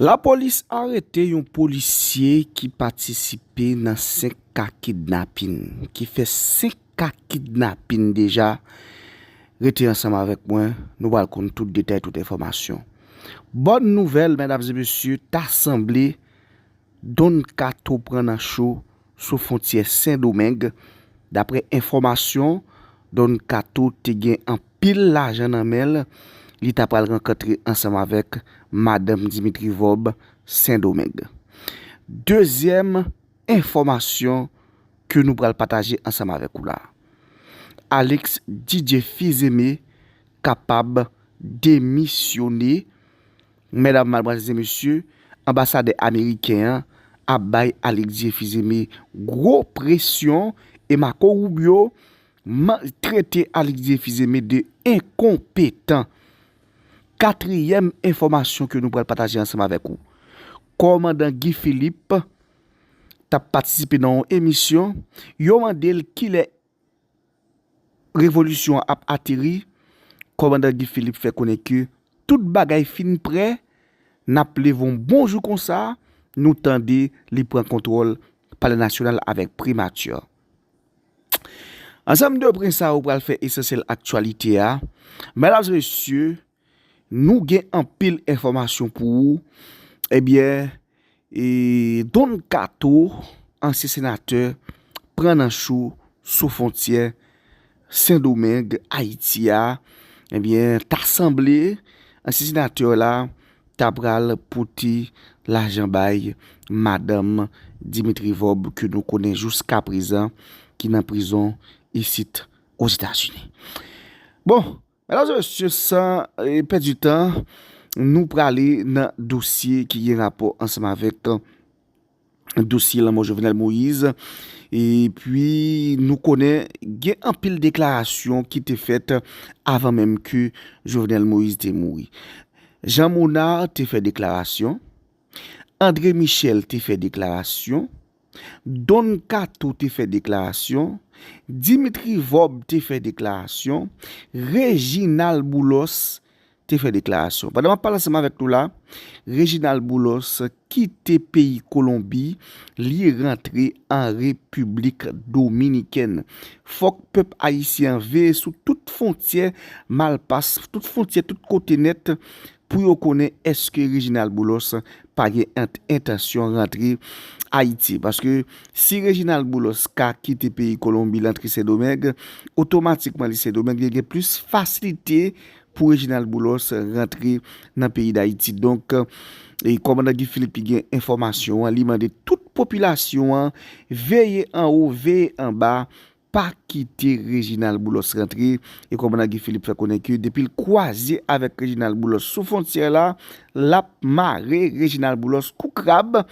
Lapolis arete yon polisye ki patisipe nan 5 ka kidnapin, ki fè 5 ka kidnapin deja, rete ansanm avèk mwen, nou pral konn tout detay, tout enfòmasyon. Bòn nouvèl mèdam e mesye, ta sanble Don Kato pran nan cho. sou fontyè Sen Domeng, daprè enfòmasyon, Don Kato te gen anpil lajan nan men l, li ta pral rankantre ansanm avèk madanm Dimitri Vorbe Sen Domeng. Dezyèm enfòmasyon ke nou pral pataje ansanm avèk ou la, Alix Didier Fils-Aimé kapab demisyone, Mèdam Malbranche di mesye anbasadè ameriken an ap bay Alix Dieu Fils-Aimé gwo presyon e Marco Rubio trete Alix Dieu Fils-Aimé de enkonpetan. Katriyèm enfòmasyon ke nou pral pataje ansanm avèk ou. Kòmandan Guy Philippe tap patisipe nan yon emisyon, yo mande l kilè Revolisyon an ap ateri, kòmandan Guy Philippe fè konnen ke tout bagay fin prè, n ap leve yon bon jou konsa, nou tande li pran kontwòl Palè Nasyonal avèk Primati. Ansanm de pwen sa yo pral fè esansyèl aktyalite a, medam e mesye. Nou gen anpil enfòmasyon pou ou ebyen e Don kato ansyen senatè pran nan cho sou fontyè sendomeng ayiti a ebyen ta sanble ansyen senatè la ta pral pote lajan bay madanm dimitri vòb ke nou konnen jouskaprezan ki nan prizon isit ozetazini bon Medam e mesye san pèdi tan nou prale nan dosye ki gen rapò ansanm avèk dosye lanmò Jovenel Moïse e pi nou konnen gen anpil deklarasyon ki te fèt avan menm ke Jovenel Moïse te mouri. Jean Monard te fè deklarasyon, André Michel te fè deklarasyon, Don Kato te fè deklarasyon, Dimitri Vorbe te fè deklarasyon, Reginald Boulos te fè deklarasyon. Pandan map pale ansanm avèk nou la, Reginald Boulos kite peyi Kolonbi, li rantre an Repiblik Dominikèn. Fòk pèp ayisyen an veye sou tout fontyè malpas, tout fontyè tout kote nèt pou yo konnen eske Reginald Boulos pa gen entansyon rantre Ayiti. Paske si Reginald Boulos ka kite peyi Kolonbi lantre Sendomeng, otomatikman li Sendomeng, li gen plis fasilite pou Reginald Boulos rantre nan peyi Dayiti. Donk, Kòmandan Guy Philippe ki gen enfòmasyon an, li mande tout popilasyon an veye anwo, veye anba, pa kite Reginald Boulos rantre e kòmandan Guy Philippe fè konnen ke depi l kwaze avèk Reginald Boulos sou fontyè la, l ap mare Reginald Boulos kou krab.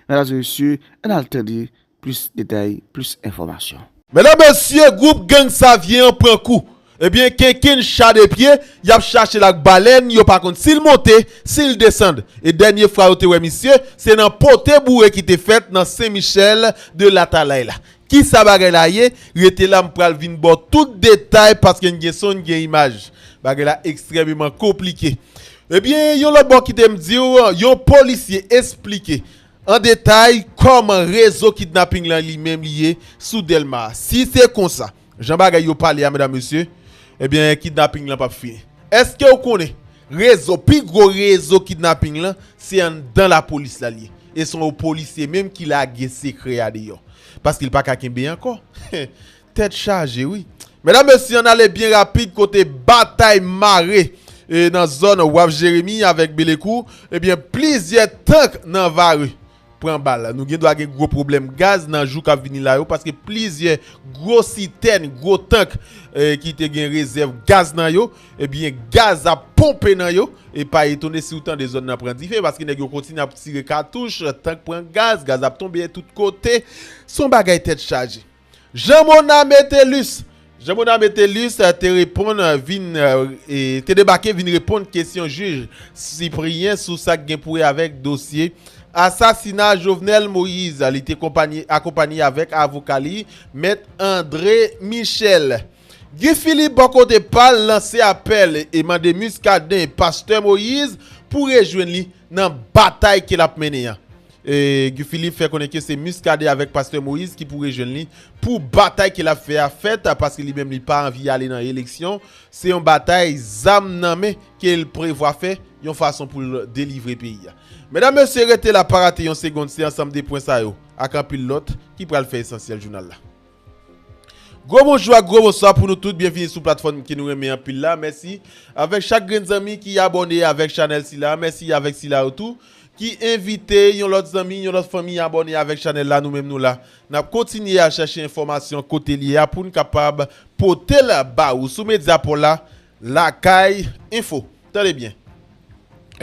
Medam e mesye, an n al tande plis detay, plis enfòmasyon. Medam mesye, gwoup gang Savyen an pran kou. Ebyen kenken cha de pye yap chache l ak balèn yo pa konn si l monte si l desand e dènye fwa yo te wè misye se nan pote boure ki te fèt nan sen michèl de latalay la kisa bagay la ye rete la m pral vin ba w tout detay paske n gen son n gen imaj bagay la ekstrèmeman konplike ebyen yon lòt bò kite m di w yon polisye esplike an detay kòman rezo kidnaping lan li menm li ye sou dèlma si se konsa. Jan bagay yo pale a medam mesye ebyen kidnapping lan pap fini. Eskew konnen rezo pi gwo rezo kidnapping lan se anndan lapolis la liye e son yon polisye menm ki lage sekrè a deyò paske li paka kenbe ankò tèt chaje wi. Medam mesye ann ale byen rapid kote batay mare nan zòn waf jeremi avèk belekou ebyen plizyè tank nan vare pran bal. Nou gendwa gen gwo pwoblèm gaz nan jou k ap vini la yo paske plizyè gwo sitèn, gwo tank ki te gen rezèv gaz nan yo, ebyen gaz ap ponpe nan yo. E pa etone si ou tande zòn nan pran dife paske nèg yo kontinye ap tire katouch, tank pran gaz, gaz ap tonbe tout kote. Se yon bagay tèt chaje. Jean Monard Métellus Jean Monard Métellus te reponn vin te debake vin reponn kesyon jij Cyprien sou sa k gen pou wè avèk dosye asasina Jovenel Moïse. Li te akonpanye avèk avoka li, mèt André Michel. Guy Philippe bò kote pa l lanse apèl e mande Muscadin, Pastè Moïse pou rejwenn li nan batay ke lap mennen an. Guy Philippe fè konnen ke se Muscadin avèk Pastè Moïse ki pou rejwenn li pou batay ke lap fè a fèt paske li menm li pa anvi ale nan eleksyon, se yon batay zam nan men kel prevwa fè yon fason poul delivre peyi a. Medam mesye rete la pa rate yon segond se ansanm de pwen sa yo ak anpil lòt ki pral fè esansyèl jounal la. Gwo bonjou ak gwo bonswa pou nou tout, byenvini sou platfòm ke nou renmen anpil la, mèsi avèk chak grenn zanmi ki abòne avèk chanèl sila, mèsi avèk sila yo tou ki envite yon lòt zanmi, yon lòt fanmi abòne avèk chanèl la, nou menm nou la nap kontinye al chache enfòmasyon kote li ye a poun kapab potel ba ou sou Mediapro la Lakay Enfo. Tande byen!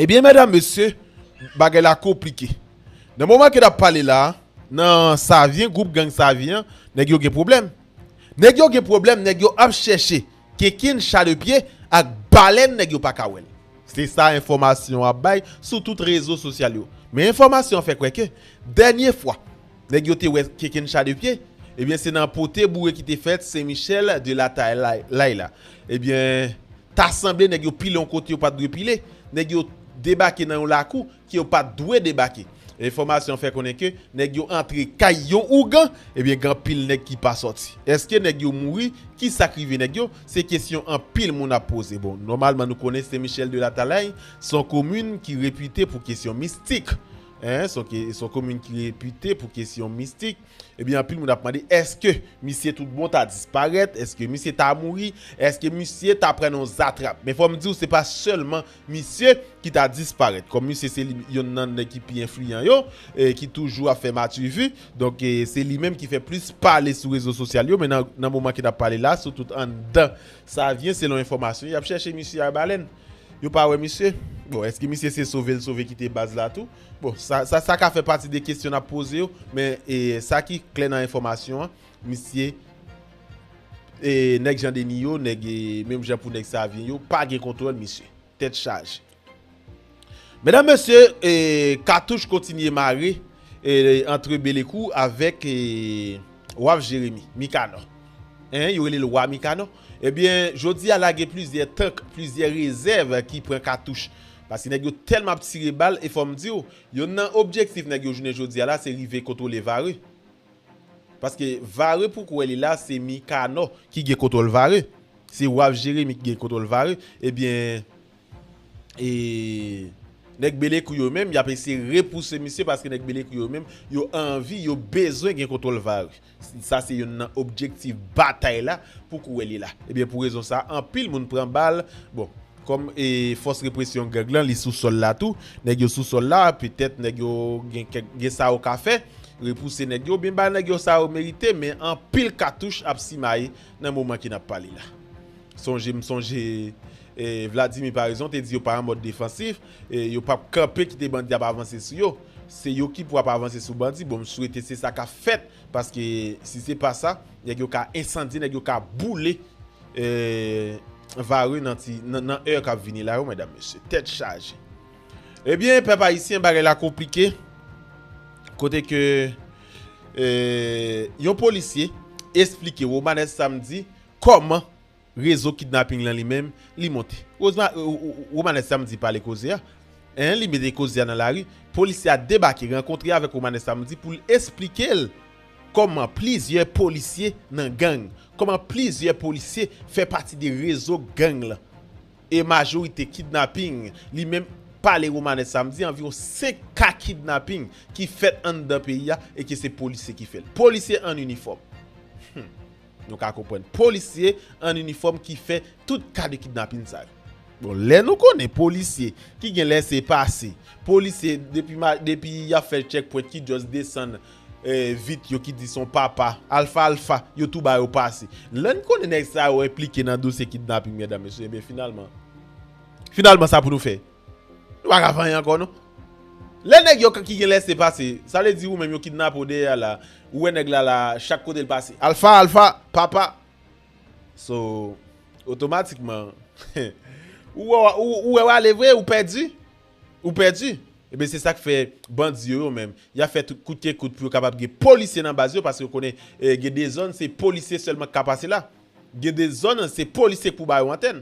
Ebyen mèdam mesye bagay la konplike. Nan moman ke nap pale la, nan Savyen, gwoup gang Savyen an, nèg yo gen pwoblèm. Nèg yo gen pwoblèm, nèg yo ap chèche kinkin, chalepye ak balèn nèg yo pa ka wè l. Se sa enfòmasyon an ap bay sou tout rezo sosyal yo. Men enfòmasyon an fè kwè ke dènye fwa nèg yo te wè kinkin chalepye, ebyen se nan pote boure ki te fèt Sen Michèl de la Talay la. Ebyen ta sanble nèg yo pile yon kote yo pat dwe pile. Nèg yo debake nan yon lakou. ke yo pat dwe debake. Enfòmasyon fè konnen ke nèg yo antre kay yon ougan, ebyen gen anpil nèg ki pa sòti. Eske nèg yo mouri? Ki sak rive nèg yo? Se kesyon anpil moun ap poze. Bon, nòmalman nou konnen Sen Michèl de Latalay se yon komin ki repite pou kesyon mistik. Hein, se yon komin ki repite pou kesyon mistik. Ebyen anpil moun ap mande eske misye tout bon ta disparèt? Eske misye ta mouri? Eske misye ta pran nan yon zatrap? Men fòm diw se pa sèlman Misye, ki ta disparèt. Kòm misye se li yonn nan nèg ki pi enfliyan yo, ki toujou ap fè matuvu, donk se li menm ki fè plis pale sou rezo sosyal yo, men nan moman ki n ap pale la a, sitou anndan Savyen, selon enfòmasyon, y ap chèche misye Arbalèn. Yo pa wè misye. Bon, èske misye se sove l sove kite baz la tou? Bon, sa ka fè pati de kesyon n ap poze yo, men sa ki klè nan enfòmasyon an, Misye e nèg jan deni yo nèg e menm jan pou nèg savyen yo pa gen kontwòl misye. Tèt chaje. Medam mesye e katouch kontinye mare e antre belekou avèk e waf jeremi, mikanò. Hein yo rele l wa mikanò. Ebyen jodi a la gen plizyè tank, plizyè rezèv ki pran katouch. Paske nèg yo tèlman ap tire bal e fò m di w yonn nan objektif nèg yo jounen jodi a la se rive kontwole vare. Paske vare pou kwe li la se mikanò ki gen kontwòl vare se waf jeremi ki gen kontwòl vare ebyen e nèg belekou yo menm yap eseye repouse misye paske nèg belekou yo menm yo anvi yo bezwen gen kontwòl vare sa se yonn nan objektif batay la pou kwe li la ebyen pou rezon sa anpil moun pran bal bon. Kòm fòs represyon gang lan li sou sòl la tou, nèg yo sou sòl la, petèt nèg yo gen kèk, gen sa yo ka fè, repouse nèg yo oubyen bay nèg yo sa yo merite men anpil katouch ap simaye nan moman ke n ap pale la. Sonje m sonje Vladimir Paraison te di yo pa an mòd defansif, yo p ap kanpe kite bandi ap avanse sou yo. Se yo ki pou ap avanse sou bandi, bon m swete se sa k ap fèt paske si se pa sa nèg yo ka ensandye, nèg yo ka boule. Eee vare nan ti nan heure kap vini la yo medam mesye tèt chaje ebyen pèp ayisyen bagay la konplike kote ke eee yon polisye esplike Romanes Samedi kòman rezo kidnapping lan li menm li monte Romanes Samedi pale koze a hein li mete koze a nan lari polisye a debake rankontre avèk Romanes Samedi poul esplikel Kòman plizyè polisye nan gang? Kòman plizyè polisye fè pati de rezo gang lan? E majorite kidnaping li menm pale Romanès Samedi anviwon 5 ka kidnaping ki fèt anndan peyi a e ke se polisye ki fè l. Polisye an inifòm. Hum. Nou ka konprann. Polisye an inifòm ki fè tout ka de kidnaping sa yo. Bon lè nou konnen polisye ki gen lèse pase, polisye depi depi yap fè chèk pwent ki just desann vit yo ki di son papa alfa alfa yo tou ba yo pase lè n konnen nèg sa yo enplike nan dosye kidnaping medam mesye ebyen finalman finalman sa pou nou fè nou pa ka fè anyen ankò non lè nèg yo ki gen lèse pase sa vle di ou menm yo kidnape w dèyè a la ou wè nèg la la chak kote l pase alfa alfa papa so otomatikman ou wè w ale vre ou pèdi. Ou pèdi! Ebyen se sak fè bandi yo yo menm, yap fè tout kout ke kout pou yo kapab gen polisye nan baz yo paske yo konnen gen de zòn se polisye sèlman ki ka pase la. Gen de zòn se polisye ki pou ba yo antèn.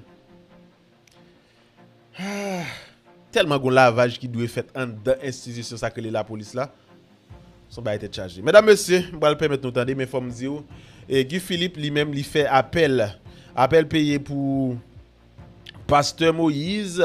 Aah! Tèlman gon lavaj ki dwe fèt anndan enstitisyon sak rele lapolis la. Son bagay tèt chaje. Medam mesye, m pral pèmèt nou tande men fòm diw Guy Philippe li menm li fè apèl. Apèl peye pou. Pastè Moïse,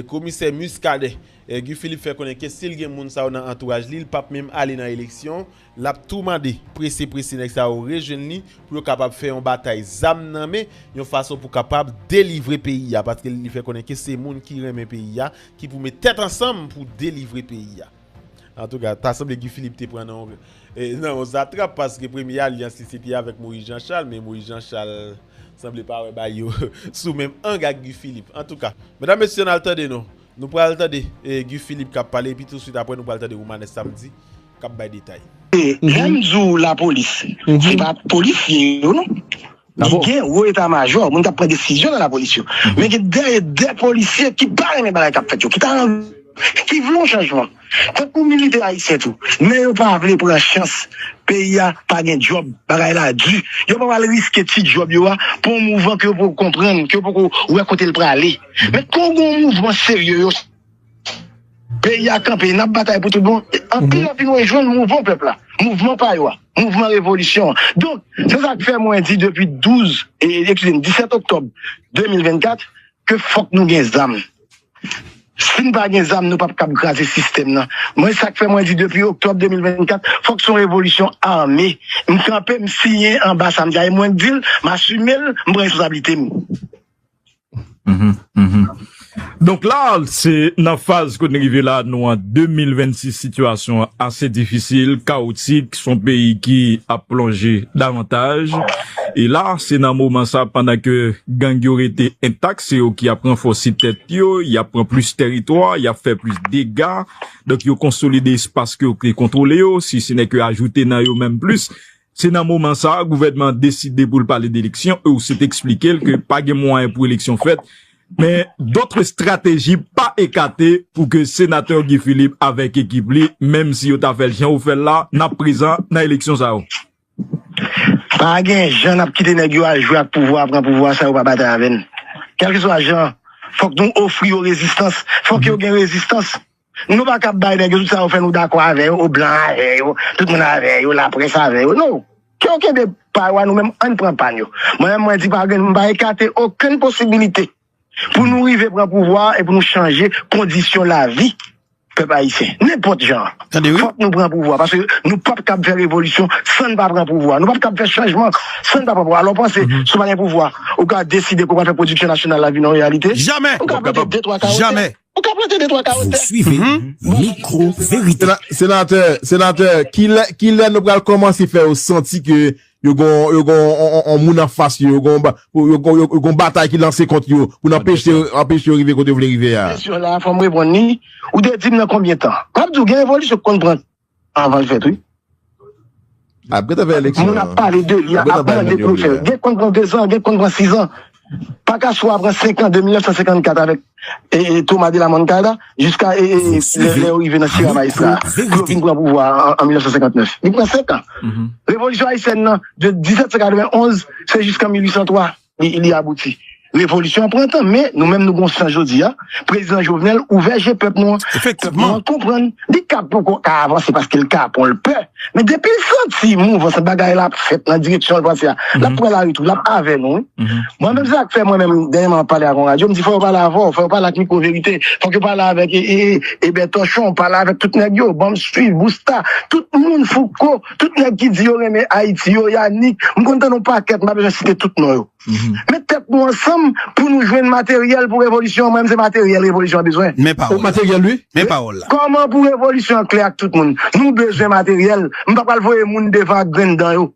Komisè Muscadin, Guy Philippe fè konnen ke si l gen moun sa yo nan antouraj li, li pap menm ale nan eleksyon, lap tou mande prese prese nèg sa yo rejwenn li pou yo kapab fè yon batay zam nan men, yon fason pou kapab delivre peyi a, paske li fè konnen ke se moun ki renmen peyi a ki pou met tèt ansanm pou delivre peyi a. Antouka, ta sanble Guy Philippe te pran nan yon zatrap paske premye alyans li se te avèk Moïse Jean Charles men Moïse Jean Charles sanble pa wè bagay yo sou menm ang ak Guy Philippe. Antouka, medam mesye ann al tande nou. Nou pral tande Guy Philippe k ap pale epi touswit apre nou pral tande Romanes Samedi k ap bay detay. Lè m di w lapolis, se pa polisye yo non. Men gen wo eta majò, moun k ap pran desizyon nan lapolis yo. Men gen dèyè de polisye ki pa renmen bagay k ap fèt yo, ki ta anvi, ki vle yon chanjman. Tankou militè ayisyen tou. Men yo pa vle pran chans. Peyi a pa gen djòb, bagay la di. Yo pa pral riske ti djòb yo a pou yon mouvan ke yo poko konprann, ke yo poko wè kote l prale. Men kon gen yon mouvman serye yo. Peyi a kanpe, n ap batay pou tout bon. Anpil anpil mwen jwenn mouvman pèp la, mouvman pa yo a, mouvman revolisyon an. Donk, se sa k fè mwen di depi 12, eskize m, 17 oktòb 2024, ke fòk nou gen zam. Si n pa gen zam, nou p ap kab kraze sistèm nan. Mwen sa k fè mwen di depi oktòb 2024, fòk se yon revolisyon ame. M kanpe, m siyen anba sa m di a e mwen di l, m asime l, m pran responsablite m. Donk la se nan faz kote nou rive la nou an 2026 sitiyasyon an ase difisil, kawotik, son peyi ki ap plonje davantaj e la se nan moman sa pandan ke gang yo rete entak se yo ki ap ranfòse tèt yo, y ap pran plis tèritwa, y ap fè plis dega donk yo konsolide espas ke yo te kontwole yo, si se nè ke ajoute nan yo menm plis Se nan moman sa a gouvènman an deside pou l pale de eleksyon, Heussaint eksplike l ke pa gen mwayen pou eleksyon fèt, men dotr estrateji pa ekate pou ke Senatè Guy Philippe avèk ekip li, menm si yo ta fè l jan yo fè l la, n ap prezan nan eleksyon sa yo. Pa gen jan n ap kite nèg yo al jwe ak pouvwa a, pran pouvwa a san yo pa batay avè n. Kèlkeswa jan, fòk nou ofri yo rezistans, fòk yo gen rezistans. Nou pa kab bay nèg yo tout sa yo fè nou dakò avè yo, o blan avè yo, tout moun avè yo, laprès avè yo, non. Ke yo kenbe pa yo a nou menm ann pran pa n yo. Mwen menm mwen di pa gen m pa ekate okenn posibilite pou nou rive pran pouvwa a e pou nou chanje kondisyon lavi pèp ayisyen. Nenpòt jan an fòk nou pran pouvwa a paske nou pap kab fè revolisyon san n pa pran pouvwa a. Nou pap kab fè chanjman san n pa pran pouvwa a. Alò panse si w pa gen pouvwa a ou ka deside ke w pral fè pwodiksyon nasyonal la vin yon reyalite? Ou ka pete de twa kawote. Ou ka plante de twa kawo tè. Vous suivez Micro Vérité. Senatè, senatè, kilè, kilè nou pral kòmanse fè yo santi ke yo gon, yo gon on moun anfas yo, yo gon, yo gon, yo gon batay ki lanse kont yo pou n anpeche, anpeche yo rive kote yo vle rive a? Kesyon la fò m reponn li. Ou te di m nan konbyen tan? M ap di w gen revolisyon ki konn pran Avan l fèt wi. Apre ta fè eleksyon an. Moun ap pale de li, ap mande pou l fè. Gen k konn pran 2 zan, gen k konn pran 6 zan. Pakasou a pran 5 an de 1954 avèk Thomas de la Moncada jiska lè yo rive nan Sierra Maestra a. Pou yo vin pran pouvwa a an 1959. Li pran 5 an. Revolisyon ayisyèn nan de 1791 se jiskan 1803. li li abouti. Revolisyon an pran tan, men nou menm nou gon sans jodi a, Prezidan Jovenel ouvè je pèp nou an, pèp nou an konprann, li ka poko ka avanse paske l kapon, l pè, men depi l santi mouvans bagay la ap fèt nan direksyon l panse a, l ap pran lari tou, l ap avè nou wi. Mwen menm se sa k fè mwen menm dènyèman m ap pale ak yon radyo, m di fò yo pale avè w, fò yo pale ak Mikwo Verite, fòk yo pale avèk Ebè Tòchon, pale avèk tout nèg yo, ban m swiv, Bousta, tout moun, Fouco. Tout nèg ki di yo renmen Ayiti yo, Yanick, m konn tande yon pakèt, m pa bezwen site tout non yo. Met tèt nou ansanm pou nou jwenn materyèl pou revolisyon an, m menm se materyèl revolisyon an bezwen. Men pawòl la. Kòman pou revolisyon an klè ak tout moun? Nou bezwen materyèl, m pa pral voye moun devan ak grenn dan yo.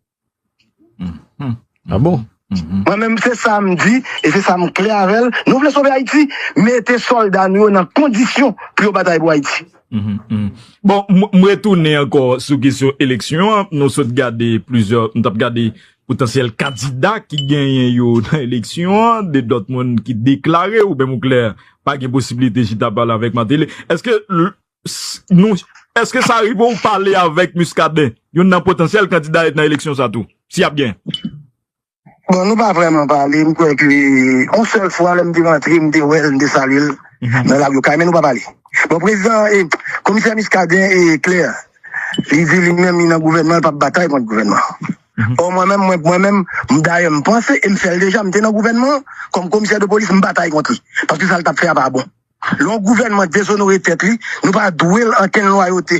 Ah bon? Mwen menm se sa m di e se sa m klè avè l, nou vle sove Ayiti, mete sòlda nou yo nan kondisyon pou yo batay pou Ayiti. Bon, m retounen ankò sou kesyon eleksyon an, nou sot gade plizyè, nou t ap gade potansyèl kandida ki genyen yo nan eleksyon an, de lòt moun ki deklare ou menm ou klè pa gen posiblite chita pale avèk Mateli. Eske nou eske sa rive ou pale avèk Muscadin youn nan potansyèl kandida nan eleksyon sa tou si y ap gen? Bon nou pa vrèman pale m kwè ke yon sèl fwa lè m te rantre m te wè l m te salye l nan lari okay men nou pa pale bon prezidan e komisè Muscadin e klè li di li menm li nan gouvènman l p ap batay kont gouvènman ò mwen menm mwen menm m dayè m panse e m fè l deja m te nan gouvènman kòm komisè de polis m batay kont li paske sa l t ap fè a pa bon. Lè yon gouvènman dezonore tèt li, nou pa dwe l ankenn lwayote.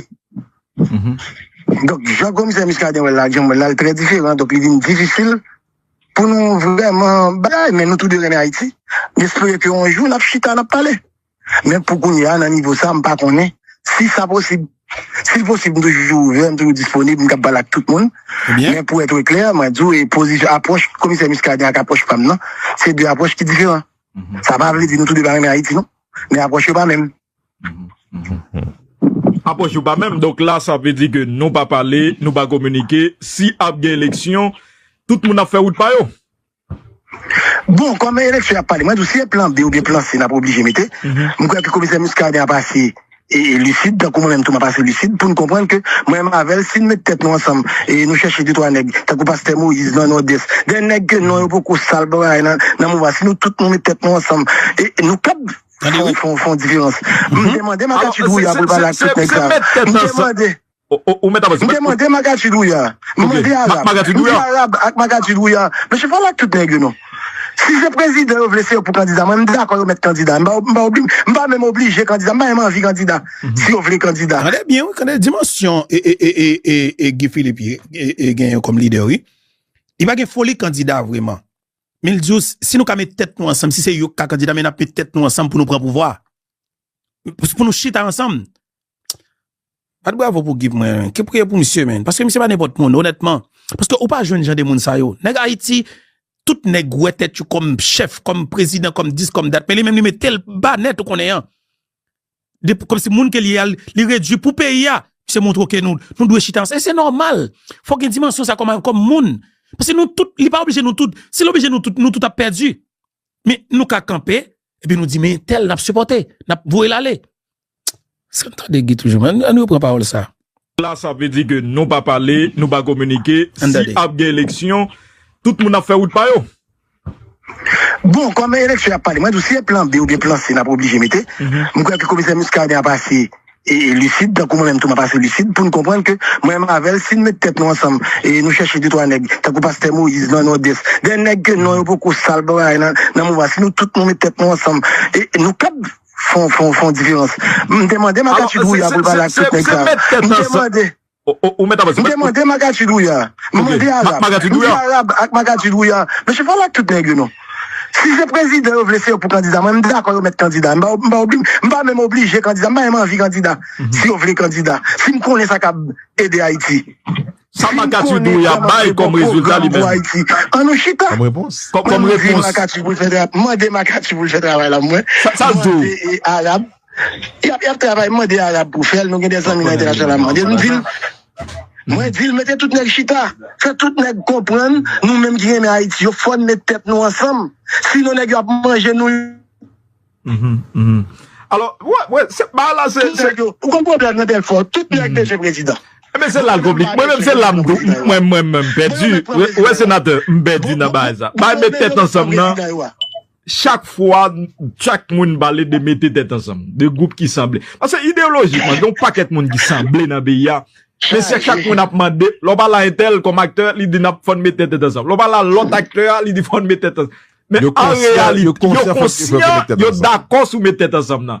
Donk, jan komisè Muscadin wè l la ak jan m wè l la, l trè diferan. Donk, li vin difisil pou nou vrèman bay. Men nou tou de renmen Ayiti. M espere ke yon jou n ap chita, n ap pale. Men pou kounye a, nan nivo sa, m pa konnen si sa posib. Si l posib, m toujou ouvè, m toujou disponib, m kab pale ak tout moun. Men pou ètre klè, mwen di w, apwòch komisè Muscadin ak apwòch pa m nan, se de apwòch ki diferan. Sa pa vle di nou tou 2 pa renmen Ayiti non, men apwòch yo pa menm. Apwòch yo pa menm, donk la sa vle di ke nou pa pale, nou pa kominike, si ap gen eleksyon, tout moun ap fè wout pa yo? Bon, kòm eleksyon y ap pale, mwen di w si se plan B oubyen plan C n ap oblije mete, m kwè ke komisè Muscadin ap ase e lisid tankou mwen menm tou map ase lisid poun konprann ke mwen menm avèl sin met tèt nou ansanm e nou chèche 2 3 nèg tankou pastè Moïse nan nòdès 2 nèg ke non yo poko sal baraye nan mouvman si nou tout nou met tèt nou ansanm e nou kab fon fon diferans mte mande makachit wouya poul pale ak tout nèg sa mte mande. M te mande Magadji Douya, m mande Arab, m di Arab ak Magadji Douya, mesye pale ak tout nèg yo non. Si se prezidan yo vle se yo pou kandida, mwen m dakò yo mèt kandida. M pa menm oblije kandida, m pa menm anvi kandida si yo vle kandida. Tande byen wi, tande dimansyon Guy Philippe gen yo kòm lidè wi. Li pa gen foli kandida vreman. Men l di yo si nou ka met tèt nou ansanm, si se yo k ka kandida men n ap met tèt nou ansanm pou nou pran pouvwa a. pou nou chita ansanm. Bat bravo pou Guy pou mwen men. Ke priye pou misye men. Paske misye pa nenpòt moun onètman. Paske ou pa jwenn jan de moun sa yo. Nèg Ayiti, tout nèg wè tèt yo kòm chèf, kòm prezidan, kòm dis, kòm dat. Men li menm li metel ba nèt ou konnen an. Kòm si moun ke li a, li redui pou peyi a. Se moun twoke nou, nou dwe chita ansanm. E se nòmal. Fòk gen dimansyon sa kòm moun. Paske nou tout, li pa oblije nou tout. Si l oblije nou tout, nou tout ap pèdi. Men nou ka kanpe epi nou di men tel nap sipòte, nap voye l ale. Eske nou tande Guy toujou menm? Ann repran pawòl sa. La sa vle di ke nou pa pale, nou pa kominike, si ap gen eleksyon, tout moun ap fè wout pa yo? Bon, kòm eleksyon y ap pale, mwen di w si se plan B oubyen plan C n ap oblije mete, mwen kwè ke komisè Muscadin ap ase e lisid tankou mwen menm tou map ase lisid poun konprann ke mwen menm avèl sin met tèt nou ansanm e nou chèche de twa nèg tankou pastè moyiz nan nòdès de nèg ke non yo poko sal baraye nan nan mouvman si nou tout nou met tèt nou ansanm e nou kab fon fon fon diferans mte mande makachit wouya poul pale ak tout nèg sa yo mte mande. Ou mèt ap di. M te mande Magadji Douya, m mande Arab, m di Arab ak Magadji Douya, mesye pale ak tout nèg yo non. Si se prezidan yo vle se yo pou kandida, mwen m dakò yo mèt kandida. M pa obli, m pa menm oblije kandida, m pa menm anvi kandida. Si yo vle kandida, si m konnen sa kab ede Ayiti. Sa Magadji Douya bay kòm rezilta li menm. An nou chita. Kòm repons. Kòm repons. Mwen mande Magadji pou l fè travay la mwen. Sa l di w. Mwen mande Arab. Yap yap travay mande arab pou fèl nou gen de zanmi nan entènasyonal ap mandel m dil mwen dil mete tout nèg chita fè tout nèg konprann nou menm ki renmen ayiti yo fòn met tèt nou ansanm si non nèg yo ap manje nou alò wè se bagay la se ou konn pwoblèm nan dèfò tout nèg bezwen prezidan ebyen se lal konplik mwen menm se la m tou mwen menm m pèdi wè senatè m pèdi nan bagay sa bagay met tèt ansanm nan. Chak fwa chak moun pale de mete tèt ansanm, de gwoup ki sanble. Pase ideolojikman, gen yon pakèt moun ki sanble nan peyi a. Men se chak moun ap mande, lè w pale a entèl kòm aktè, li di nap fòn mete tèt ansanm. Lè w pale a lòt aktè a, li di fòn mete tèt ansanm. Men an reyalite, yo konsyan, yo dakò sou mete tèt ansanm nan.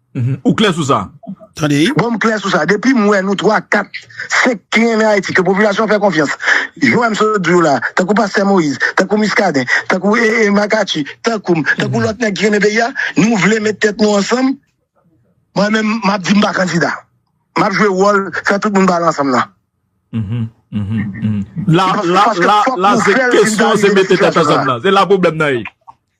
Ou klè sou sa? Tande. Bon m klè sou sa. Depi m wè nou 3, 4, 5 ki renmen Ayiti, ke popilasyon an fè konfyans, jan m sot di w la, tankou pastè Moïse, tankou Muscadin, tankou Marcacci, tankou m, tankou lòt nèg ki renmen peyi a, nou vle met tèt nou ansanm, mwen menm m ap di m pa kandida. M ap jwe wòl fè tout moun pale ansanm nan. La se kesyon se mete tèt ansanm nan. Se la pwoblèm nan ye.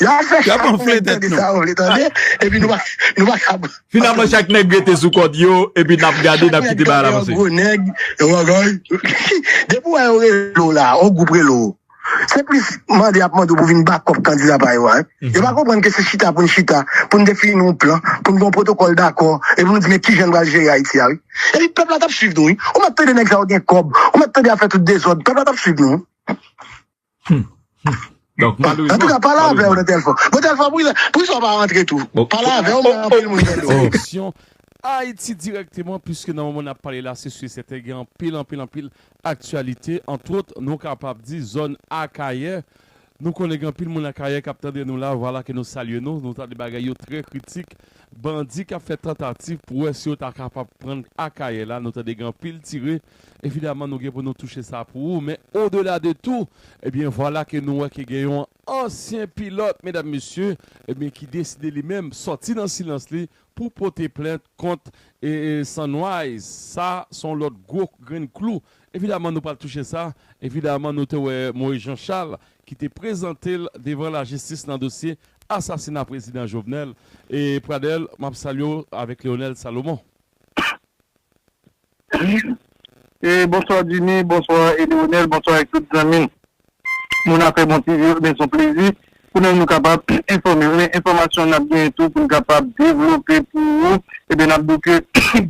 Yap fè chat pou nèg tande sa yo vle tande epi nou pa kab. Finalman chak nèg rete sou kòd yo epi nap gade nap kite bagay la pase. Chak nèg tande yon gwo nèg. Depi wè yon rele w la, yon gwoup rele w, se plis mande yap mande w pou vin bakòp kandida pa yo a. Yo pa konprann ke se chita pou n chita, pou n defini yon plan, pou n gen yon pwotokòl dakò e pou nou di men kijan n pral jere Ayiti a wi. Epi pèp la tap swiv nou wi. Ou mèt tande nèg sa yo gen kòb, ou mèt tande yap fè tout dezòd, pèp la tap swiv nou wi. An tou ka pale avè w nan telfon. Bon telfon poukisa w pa rantre tou. Pale avè w men anpil moun tande w. Direksyon Ayiti dirèkteman puiske nan moman n ap pale la se si e sèten gen anpil anpil anpil aktyalite antwot nou kapab di zòn Akayè nou konnen gen anpil moun Akayè k ap tande nou la vwala ke nou salye nou nou tande bagay yo trè kritik bandi k ap fè tantativ pou wè si yo ta kapab pran Akayè la nou tande gen anpil tire Evidaman nou gen pou nou touche sa pou ou men o dela de tou ebyen vwala ke nou wè ke gen yon ansyen pilòt medam mesye ebyen ki deside li menm sòti nan silans li pou pote plent kont Sunrise sa son lòt gwo grenn klou evidaman nou pral touche sa evidaman nou te wè Moïse Jean Charles ki te prezante l devan lajistis nan dosye asasina prezidan Jovenel e Pradel map salye w avèk Leonel Salomon. Bonswa Jimmy, bonswa Edionel, bonswa ak tout zanmi moun afè bon TV yo, ebyen son plezi pou nou nou kapab enfòmew, men enfòmasyon nap genyen tou poun kapab devlope pou ou, ebyen nap diw ke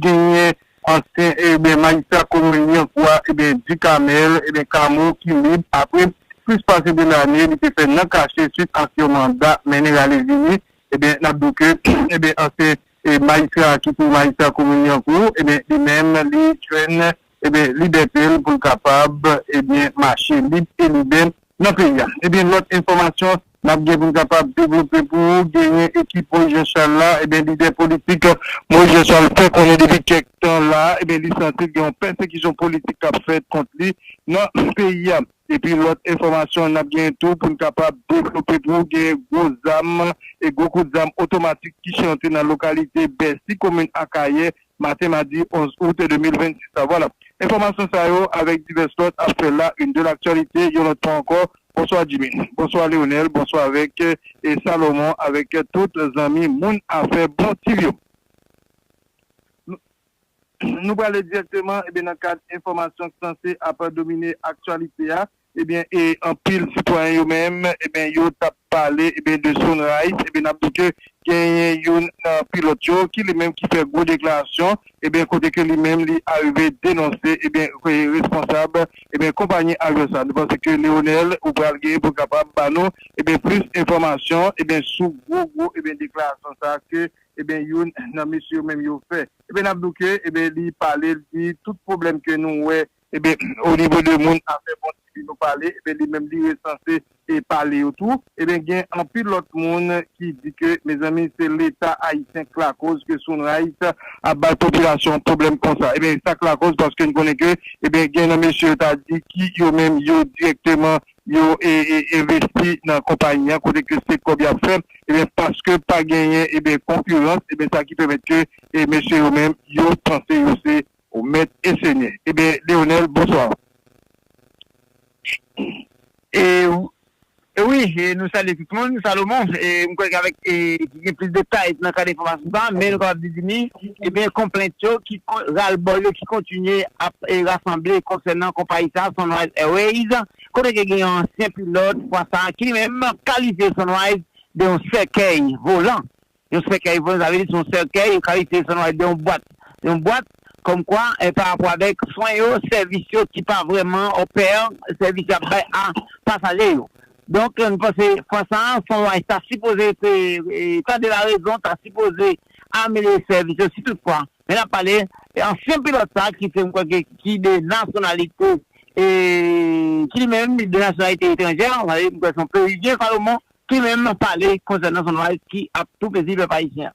genyen ansyen ebyen majistra komin Lyankou a ebyen Ducamel ebyen Camo ki lib apre plis pase 2 lane li te fè nan kache swit ak yon manda mennen rale vini, ebyen nap diw ke ebyen ansyen E majistra ki pou majistra komin nan tou ebyen li menm li jwenn ebyen libète l pou l kapab ebyen mache lib e libè nan peyi a. Ebyen lòt enfòmasyon n ap gen pou n kapab devlope pou ou genyen ekip Moyiz Janchal la ebyen lidè politik Moyiz Janchal fè konnen depi kèk tan la ebyen li santi l gen yon pèsekisyon politik k ap fèt kont li nan peyi a. Epi lòt enfòmasyon nap genyen tou poun kapab devlope pou ou genyen gwo zam e gwo kout zam otomatik ki chante nan lokalite Bèsi komin Akayè maten madi 11 out 2026 la vwala enfòmasyon sa yo avèk divès lòt ap fè la une de l'actualité yon lòt fwa ankò bonswa Djimy bonswa Leonel bonswa avèk e Salomon avèk tout zanmi moun afè bon TV yo. Nou prale dirèkteman ebyen nan kad enfòmasyon k sanse ap domine aktyalite a ebyen e anpil sitwayen yo menm ebyen yo tap pale ebyen de Sunrise ebyen nap di ke genyen youn nan pilòt yo ki li menm ki fè gwo deklarasyon ebyen kote ke li menm li arive denonse ebyen responsab ebyen konpayi avion sa nou panse ke Leonel ou pral genyen pou kapab ba nou ebyen plis enfòmasyon ebyen sou gwo gwo ebyen deklarasyon sa ke Eben youn nan mesye yo menm yo fè eben nap di w ke eben li pale l di tout pwoblèm ke nou wè eben o nivo de moun afè bon ti vi nou pale eben li menm li resanse e pale yo tou eben gen anpil lòt moun ki di ke mezanmi se leta ayisyen k lakoz ke Sunrise ap bay popilasyon an pwoblèm konsa eben sak lakoz paske n konnen ke eben gen nan mesye yo ta di ki yo menm yo dirèkteman yo envesti nan konpayi an kote ke se kòb yap fè ebyen paske pa genyen ebyen konkirans ebyen sa ki pèmèt ke mesye yo menm yo panse yo se mèt e senyè ebyen Leonel bonswa. Wi nou salye tout moun Salomon mwen kwè ke avèk. Nou gen plis detay nan kad enfòmasyon sa a, men nou kapab dezime ebyen konplent yo ki ralbòl yo ki kontinye ap rasanble konsènan konpayi sa a Sunrise Airways kote ke gen yon ansyen pilòt fwa sa a ki li menm kalifye Sunrise de yon sèkèy volan, yon sèkèy volan sa vle di se yon sèkèy yo kalifye Sunrise de yon bwat, yon bwat kòm kwa pa rapò avèk swen yo, sèvis yo ki pa vrèman òpè sèvis y ap bay a pasaje yo. Donk m panse fwa sa a Fon Wise ta sipoze tande larezon, ta sipoze amelyore sèvis yo si tout fwa, men n ap pale ansyen pilòt sa a ki se m kwè ke ki de nasyonalite ki li menm li de nasyonalite etranjè, m kwè se yon Peruvyen Salomon ki menm pale konsènan Fon Wise ki ap tou pezi pèp ayisyen.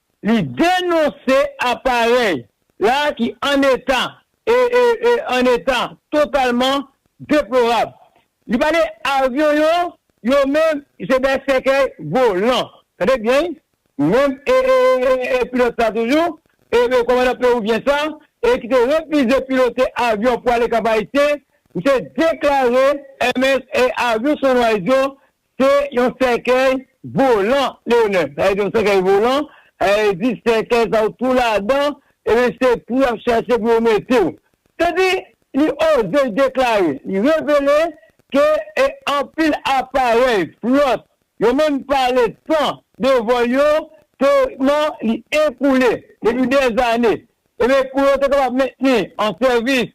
Li denonse aparèy la ki an eta e an eta totalman deplorab. Li pale avyon yo, yo menm se dè sèkèy volan. Tande byen wi, menm pilòt sa toujou, kòmandan pewouvyen sa e ki te refize pilote avyon pou ale Kap Ayisyen, misye deklare avyon Sunrise yo Se yon sèkèy volan Leonel. Sa vle di yon sèkèy volan, sa vle di sèkèy sa ou tou ladan epi se pou y ap chache pou yo mete w. Se di li oze deklare, li revele ke e anpil aparèy, flòt, yo menm pale san devan yo teorikman li ekoule depi dèzane epi pou yo te kapab mentni an sèvis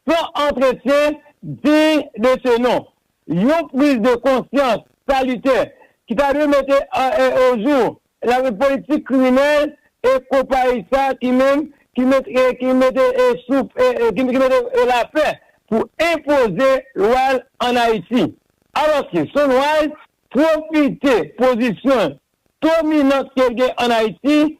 san antretyen diy de se non. Yon priz de konsyans salitè ki ta dwe mete ojou lari politik kriminèl e konpayi sa ki menm ki mete souf ki mete lapè pou enpoze lwa l an Ayiti. Alòske Sunrise pwofite pozisyon l dominant ke l gen an Ayiti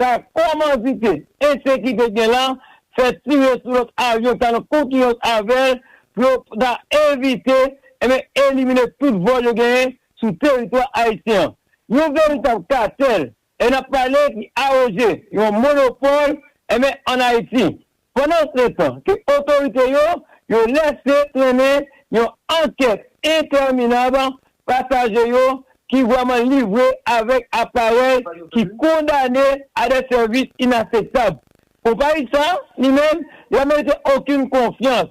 Sa komandite ensekite gen la fè tire sou lòt avyon ki ta nan konkiranc avè l pou yo ta evite enben elimine tout vòl yo genyen sou teritwa ayisyen an. Yon veritab katèl e n ap pale ki aroge yon monopòl enben ann Ayiti. Pandan setan ke otorite yo yo lèse trennen yon ankèt entèminab pasaje yo ki vrèman livre avèk aparèy ki kondane a de sèvis inaseptab. Konpayi sa, li menm, la merite okenn konfyans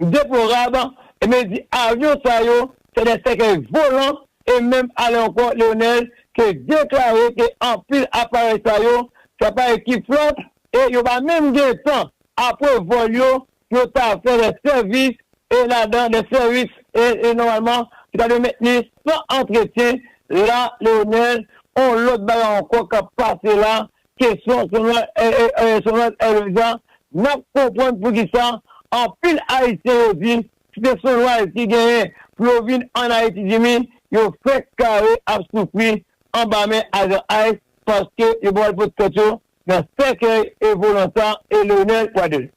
Deplorab, e men di avyon sa yo se de sèkèy volan, e menm ale ankò Leonel te deklare ke anpil aparèy sa yo se aparèy ki flòt e yo pa menm gen tan apre vòl yo pou yo ta fè de sèvis e ladan de sèvis e nòmalman ki ta dwe mentni san antretyen la Leonel on lòt bagay ankò kap pase la Kesyon Sonal Erreza N ap konprann poukisa anpil Ayisyen yo di si se Sonal ki genyen pou yo vin ann Ayiti Jimmy yo fenk kare ap soufri anba men ajan ice paske yo pral pot tèt yo nan sèkèy e volan sa e Leonel Pradel.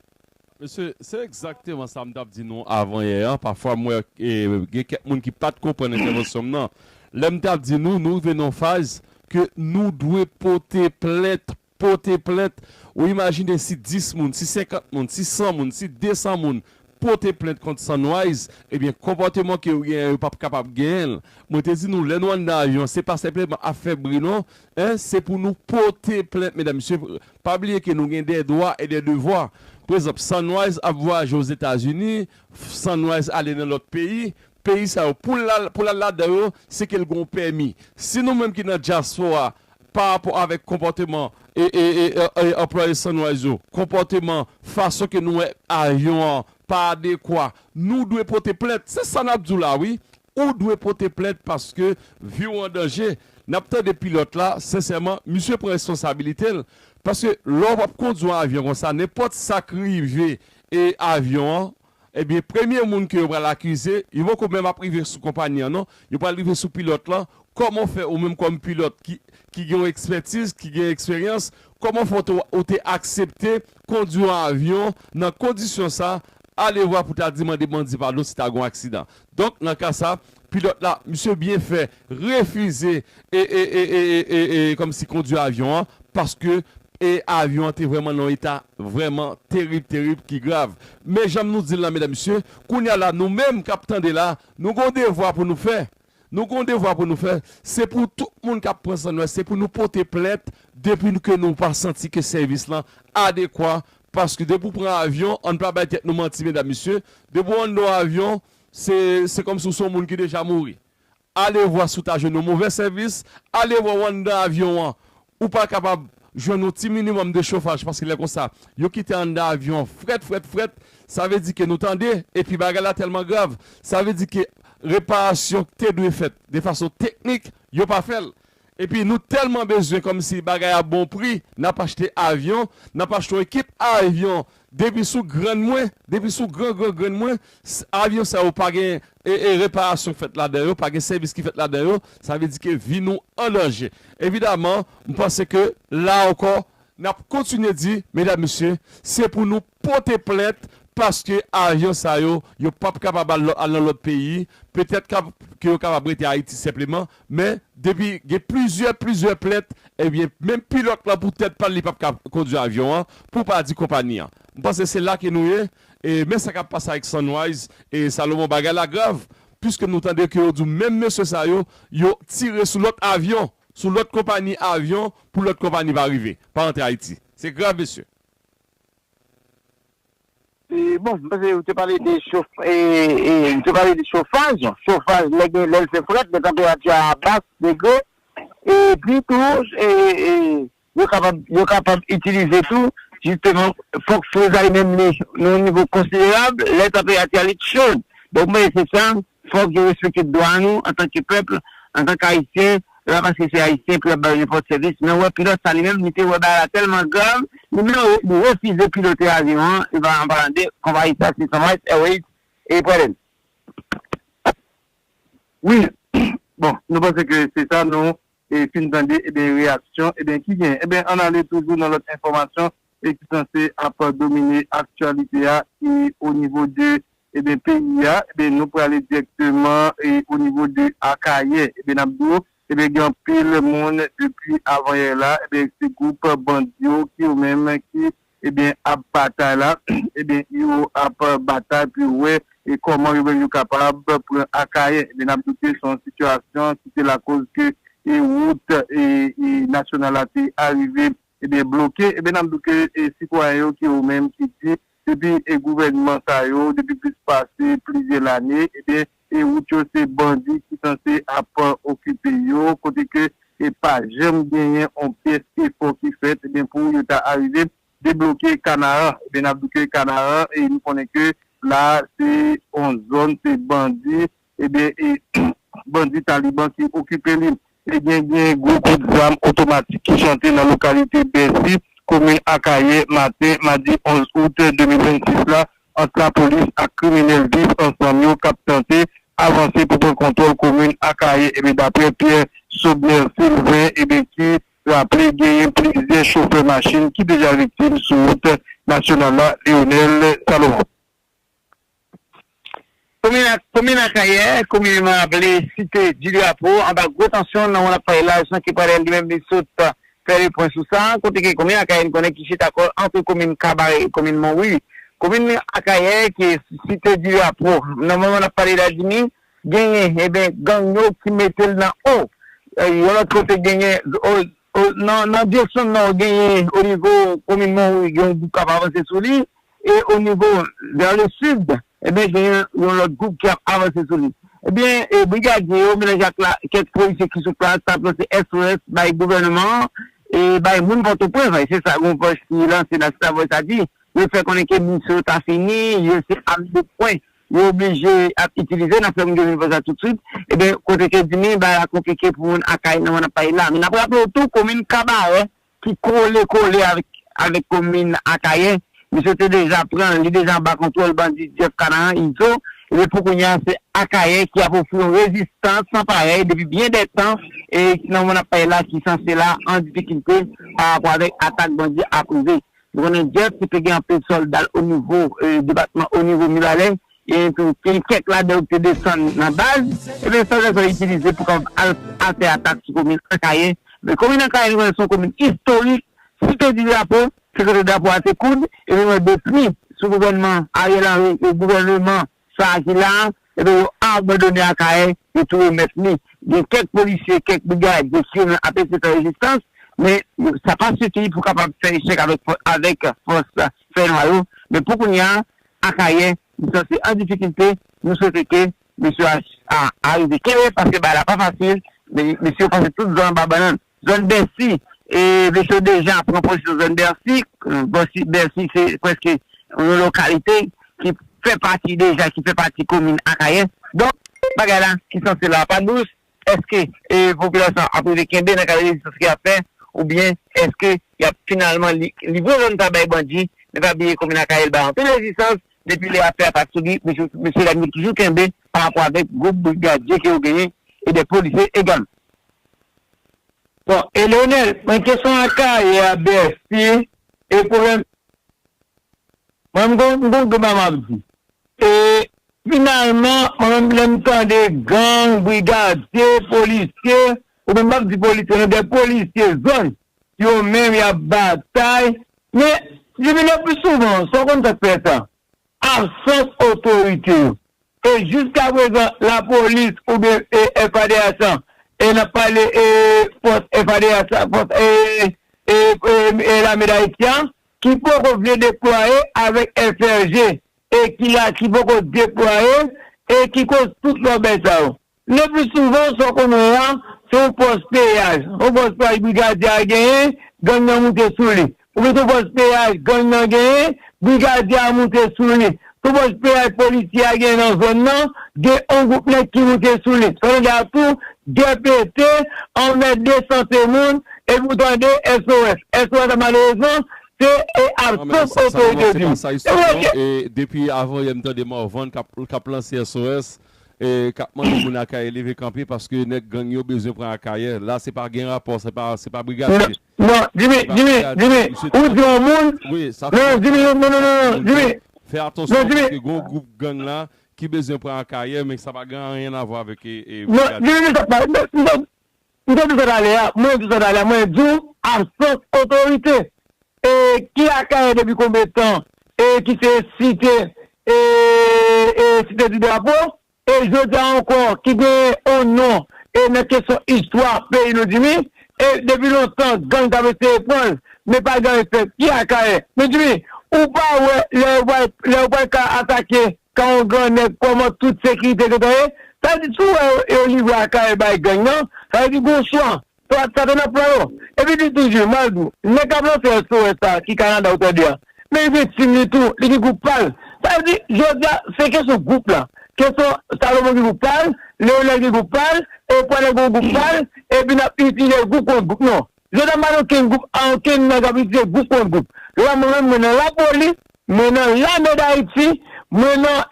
Mesye, se egzakteman sa m t ap di nou avanyè a. Pafwa m wè gen kèk moun ki pa t konprann entèvansyon m nan. Lè m t ap di nou, nou rive nan yon faz ke nou dwe pote plent, pote plent. Ou imajine si 10 moun, si 50 moun, si 100 moun, si 200 moun pote plent kont Sunrise, ebyen konpòteman ke yo genyen an yo p ap kapab genyen l. Mwen te di nou lè nou anndan avyon an se pa senpleman ap fè bri non. Se pou nou pote plent medam mesye. Pa bliye ke nou gen dè dwa e dè devwa. Pa egzanp, Sunrise ap vwayaje Ozetazini, Sunrise ale nan lòt peyi, peyi sa yo pou l al ladan yo se ke l gen yon pèmi. Si nou menm ki nan dyaspora parapò avèk konpòteman anplwaye Sunrise yo, konpòteman, fason ke nou wè avyon an pa adekwa, nou dwe pote plent. Se sa n ap di w la wi. Ou dwe pote plent paske vi w an danje. Nap tande pilòt la, sensèman misye pran responsabilite l paske lè w ap kondi yon avyon konsa nenpòt sak rive e avyon an ebyen premye moun ke yo pral akize yo poko menm ap rive sou konpayi an non yo pral rive sou pilòt lan kòman w fè ou menm kòm pilòt ki ki gen yon ekspètiz ki gen eksperyans kòman w fè ou te ou te aksepte kondi yon avyon nan kondisyon sa alevwa pou ta di mande bandi padon si ta gen yon aksidan Donk nan ka sa, pilòt la, misye byen fè refize e e e e e e kòmsi kondwi avyon an paske e avyon an te vrèman nan yon eta vrèman terib terib ki grav. Men jan nou di l la medam mesye, kounye a la nou menm k ap tande la, nou gen yon devwa pou nou fè, nou gen yon devwa pou nou fè, se pou tout moun k ap pran san nou a, se pou nou pote plent depi ke nou pa santi ke sèvis lan adekwa Pask depi w pran avyon, ann pa bay tèt nou manti medam mesye, depi w anndan w avyon, se se kòmsi w se yon moun ki deja mouri. Alevwa si w ta jwenn yon movè sèvis, alevwa w anndan avyon an, ou pa kapab jwenn yon ti minimòm de chofaj paske lè konsa, yo kite anndan avyon an frèt frèt frèt, sa vle di ke nou tande, epi bagay la tèlman grav, sa vle di ke reparasyon k te dwe fèt de fason teknik, yo pa fè l. Epi nou tèlman bezwen kòmsi bagay a bon pri nap achte avyon, nap achte yon ekip avyon depi sou grann mwen, depi sou gran gran grann mwen avyon sa yo pa gen reparasyon k fèt ladan yo, pa gen sèvis ki fèt ladan yo, sa vle di ke vi nou an danje. Evidaman, m panse ke la ankò nap kontinye di medam mesye se pou nou pote plent paske ajan sa yo yo pap kapab al nan lòt peyi petèt kap ke yo kapab rete ayiti senpleman men depi gen plizyè plizyè plent ebyen menm pilòt lan pou tèt pal li pap ka kondwi avyon an pou pa di konpani an m panse se la ke nou ye e men sa kap pase ak sunrise e salomon bagay la grav piske nou tande ke yo di menm mesye sa yo yo tire sou lòt avyon sou lòt konpani avyon pou lòt konpani pa rive pa antre ayiti se grav mesye Bon, mwen panse ou te pale de chof, ou te pale de chofaj, chofaj lè gen, lè l fè frèt, lè tanperati a bas degre, epi tou yo kapab, yo kapab itilize tou jisteman fòk frizay menm li nan yon nivo konsiderab lè tanperati a li t cho, donk mwen panse se sa Fòk yo respekte dwa nou antanke pèp, antanke Ayisyen, e pa paske se Ayisyen pou y ap ba yo nenpòt sèvis. Men wè pilòt sa li menm, li te wè bagay la tèlman grav, li menm li refize pilote avyon an, e pa an palan de konpayi sa se Sunrise Airways e Predair. Wi, bon, nou panse ke se sa nou. e fin tande ebyen reyaksyon ebyen ki gen ebyen ann ale toujou nan lòt enfòmasyon e ki sanse ap domine aktyalite a ki o nivo de ebyen peyi a ebyen nou prale dirèkteman e o nivo de Akayè ebyen nap di w ebyen gen anpil moun depi avanyè la ebyen se gwoup bandi yo ki yo menm ki ebyen ap batay la ebyen yo ap batay pou yo wè e kòman yo menm yo kapab pran Akayè ebyen nap di w ke se yon sitiyasyon ki te lakoz ke e wout e nasyonal la te arive ebyen bloke ebyen nap di w ke e sitwayen yo ki yo menm ki di depi e gouvènman sa yo depi plis pase plizyè lane ebyen Se wout yo se bandi ki sanse ap okipe yo kote ke e pa janm genyen on pyès efò ki fèt ebyen pou yo ta arive debloke Kanaran ebyen nap di ke Kanaran e nou konnen ke la se on zòn se bandi ebyen e bandi Taliban ki okipe li Te gen gen gwo kout zam otomatik ki chante nan lokalite Bèsi, komin Akayè, maten madi 11 out 2026 la ant lapolis ak kriminèl viv ansanm yo k ap tante avanse pou pran kontwòl komin Akayè ebyen daprè Pierre Sobner Sylvain ebyen ki raple genyen plizyè chofè machin ki deja viktim sou wout nasyonal la Leonel Salomon. Komin Akayè, kominman aple Site di Drapo, anba gwo tansyon nan wonn ap fay laj nan Kepwade li menm li sot fè le pwen sou sa, kote ke komin Akayè n konnen ki chita kò l antre komin Kabare e komin Monwi. Komin Akayè ke Site di Drapo nan moman n ap pale la di ni genyen, eben gang yo ki mete l nan o yon lòt kote genyen O nan nan direksyon nò genyen o nivo komin Monwi gen yon gwoup k ap avanse sou li e o nivo vè le sid ebyen gen yon lòt gwoup ki ap avanse sou li ebyen e brigadye yo melanj ak la kèk polisye ki sou plas ta ap lanse SOS bay gouvèneman an e bay moun Pòtoprens vre se sa yon vòj ki lanse la se sa vòj sa di yo fè konnen ke misyon ta fini yo se a 2 pwen yo oblije ap itilize nan fèm grenn vòza toutswit eben kote ke dimi bagay la konplike pou moun akay nan mwen ap pale la men nap raple w tou komin kabarè ki kole kole avk avèk komin akayè misye te deja pranl li deja anba kontwòl bandi jeff kanaran izo eben pou kounya se akayè ki ap ofri yon rezistans san parèy depi byen dè tan e nan mwen ap pale la ki sanse la an difikilte parapò avèk atak bandi ap rive Nou konnen Jeff ki te gen anpil sòlda l onivo depatman onivo Mibalè, genyen tou gen kèk ladan yo ki te desann nan baz, ebyen sòlda sa yo itilize pou kapab al al fè atak sou komin Akayè. Ebyen komin Akayè nou konnen se yon komin istorik, si te di drapo, se kote drapo a te koud, ebyen nou wè depi sou gouvènman Ariel Henry e gouvèneman Sa a ki la a, enben yo abandone Akayè, yo tou remèt li. Gen kèk polisye, kèk brigad, gen ki menm ap eseye fè rezistans, men sa pa sifi pou kapab fè echèk avèk fòs fènwa yo. Men pou kounya a, Akayè li sanse an difikilte, nou swete ke mesye a arive kenbe, paske bagay la pa fasil, men mesye yo pase tout zan anba bannann. Zòn Bèsi, Vechon deja pran pozisyon zòn Bèsi. Bèsi se prèske yon lokalite ki fè pati deja, ki fè pati komin Akayè. Donk, bagay la ki sanse la a pa dous. Èske popilasyon an ap rive kenbe nan kad rezistans ke y ap fè? Oubyen èske y ap finalman livre zòn sa a bay bandi? Men pa bliye komin Akayè bay anpil rezistans. Depi lè y ap fè atak sou li, mesye dam yo toujou kenbe pa rapò avèk gwoup brigadye ke yo genyen e dè polisye egalman. Bon e leonel mwen kesyon akayè a bèsi e pwoblèm mwen m gon gon deba map di e finalman mwen menm lèm tande gang brigadye polisye ou menm pap di polisye non de polisye zòn yo menm yap batay men divino pi souvan sa w konn sak fè sa Absans otorite yo. E jiskaprezan lapolis oubyen FADH lan, e n ap pale fòs FADH la, fòs lame Dayiti an, ki poko vle deplwaye avèk FRG e ki la ki poko deplwaye e ki koz tout lòbèy sa yo. Lepli souvan, sa w konnen an, se yon pòs peyaj. Yon pòs peyaj brigadye a genyen, gang nan moute sou li. Ou gen yon pòs peyaj gang nan genyen, brigadye a moute sou li. Yon pòs peyaj polisye a genyen nan zòn nan, gen yon gwoup nèg ki moute sou li. Sa vle di a tou, gè pete, anmède sante moun, epi ou tande SOS. SOS la malerezman, se e ap sof otorite di. Depi avan yè m tande Morvan k ap lanse SOS. kap mande moun akayè leve kanpe paske nèg gang yo bezwen pran akayè la se pa gen rapò se pa se pa brigadye Non Jimmy Jimmy Jimmy ou di yon moun non Jimmy non non non non Jimmy fè atansyon paske gon gwoup gang la ki bezwen pran akayè men sa pa gen anyen avwa avèk brigadye non Jimmy M te di sa talè a, mwen di sa talè a, mwen di w absans otorite e ki Akayè depi konbe tan e ki se site e e site di drapo e jodi a ankò ki gen on non e nan kesyon istwa peyi nou di mi e depi lontan gang t ap eseye pran l men pa janm fèt ki Akayè men di mi ou pa wè lè yo pral lè yo pral ka atake Kan yon gran nèg kòman tout sekirite gentan ye? Sa vle di si w wè yo livre akayè bay gang nan, sa vle di gen yon swa, swa satan nan plan yo. Epi di toujou, mal di w, nèg k ap lanse SOS sa ki Kanada ou tande a, men li gen team li tou, li gen gwoup pa l. Sa vle di jodi a se kesyon gwoup la, kesyon Salomon gen gwoup pa l, Leonel gen gwoup pa l, Euphorie gen yon gwoup pa l, epi n ap itilize gwoup kont gwoup. Non, Jodha m pa nan okenn gwoup a okenn nèg ap itilize gwoup kont gwoup la mwen menm mwen nan lapoli mwen nan lame dayiti mwen nan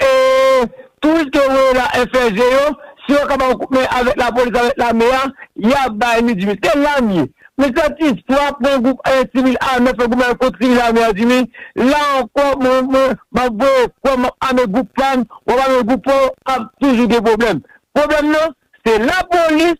touris ke voye la FLG yo si yo ka ba ou kout men avèk lapolis avèk lame a ya bay nou jimmy se la m ye mwen santi fwa pran gwoup sivil ame fè goumen kont sivil ame a jimmy la ankò mwen mwen map voye kwè map ame gwoup pam wap ame gwoup ou ap toujou gen pwoblèm pwoblèm nan se lapolis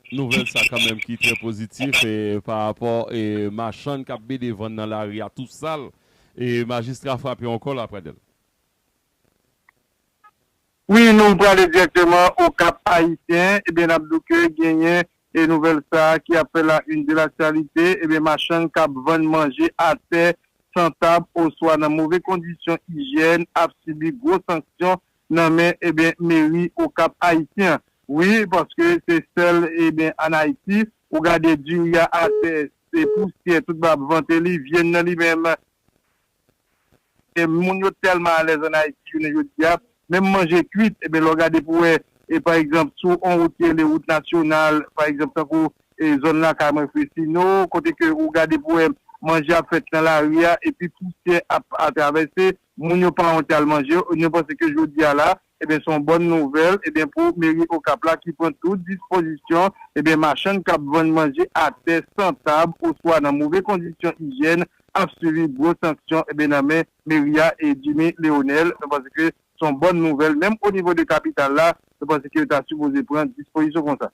Nouvèl sa kanmèm ki trè pozitif pa rapò machann kap BD vann nan lari a tou sal e majistra frape yon kòl a Pradel. Wi nou prale dirèkteman o Kap Ayisyen ebyen nap di w ke genyen e nouvèl sa ki ap fè la une de l'actualité ebyen machann kap vann manje atè, san tab oswa nan move kondisyon ijyèn ap sibi gwo sanksyon nan men ebyen meri okap ayisyen wi paske se sèl ebyen an ayiti ou gade diri a atè se pousyè tout bab vante li vyenn nan li menm e moun yo tèlman alèz an ayiti jounen jodia menm manje kwit ebyen lè w gade pou wè e pa egzanp sou on wout ki rele wout nasyonal pa egzanp tankou e zòn lakay mwen fresino kote ke ou gade pou wè manje ap fèt nan lari a epi pousyè ap atravèse Moun yo pa wonte al manje, nou panse ke jodi a la, ebyen se yon bòn nouvèl, ebyen pou meri Okap la ki pran tout dispozisyon, ebyen machann k ap vann manje atè, san tab, oswa nan move kondisyon ijyèn ap sibi gwo sanksyon, ebyen nan men meri a e Jimmy Leonel, nou panse ke se yon bòn nouvèl, menm onivo de kapital la, nou panse ke yo ta sipoze pran dispozisyon konsa.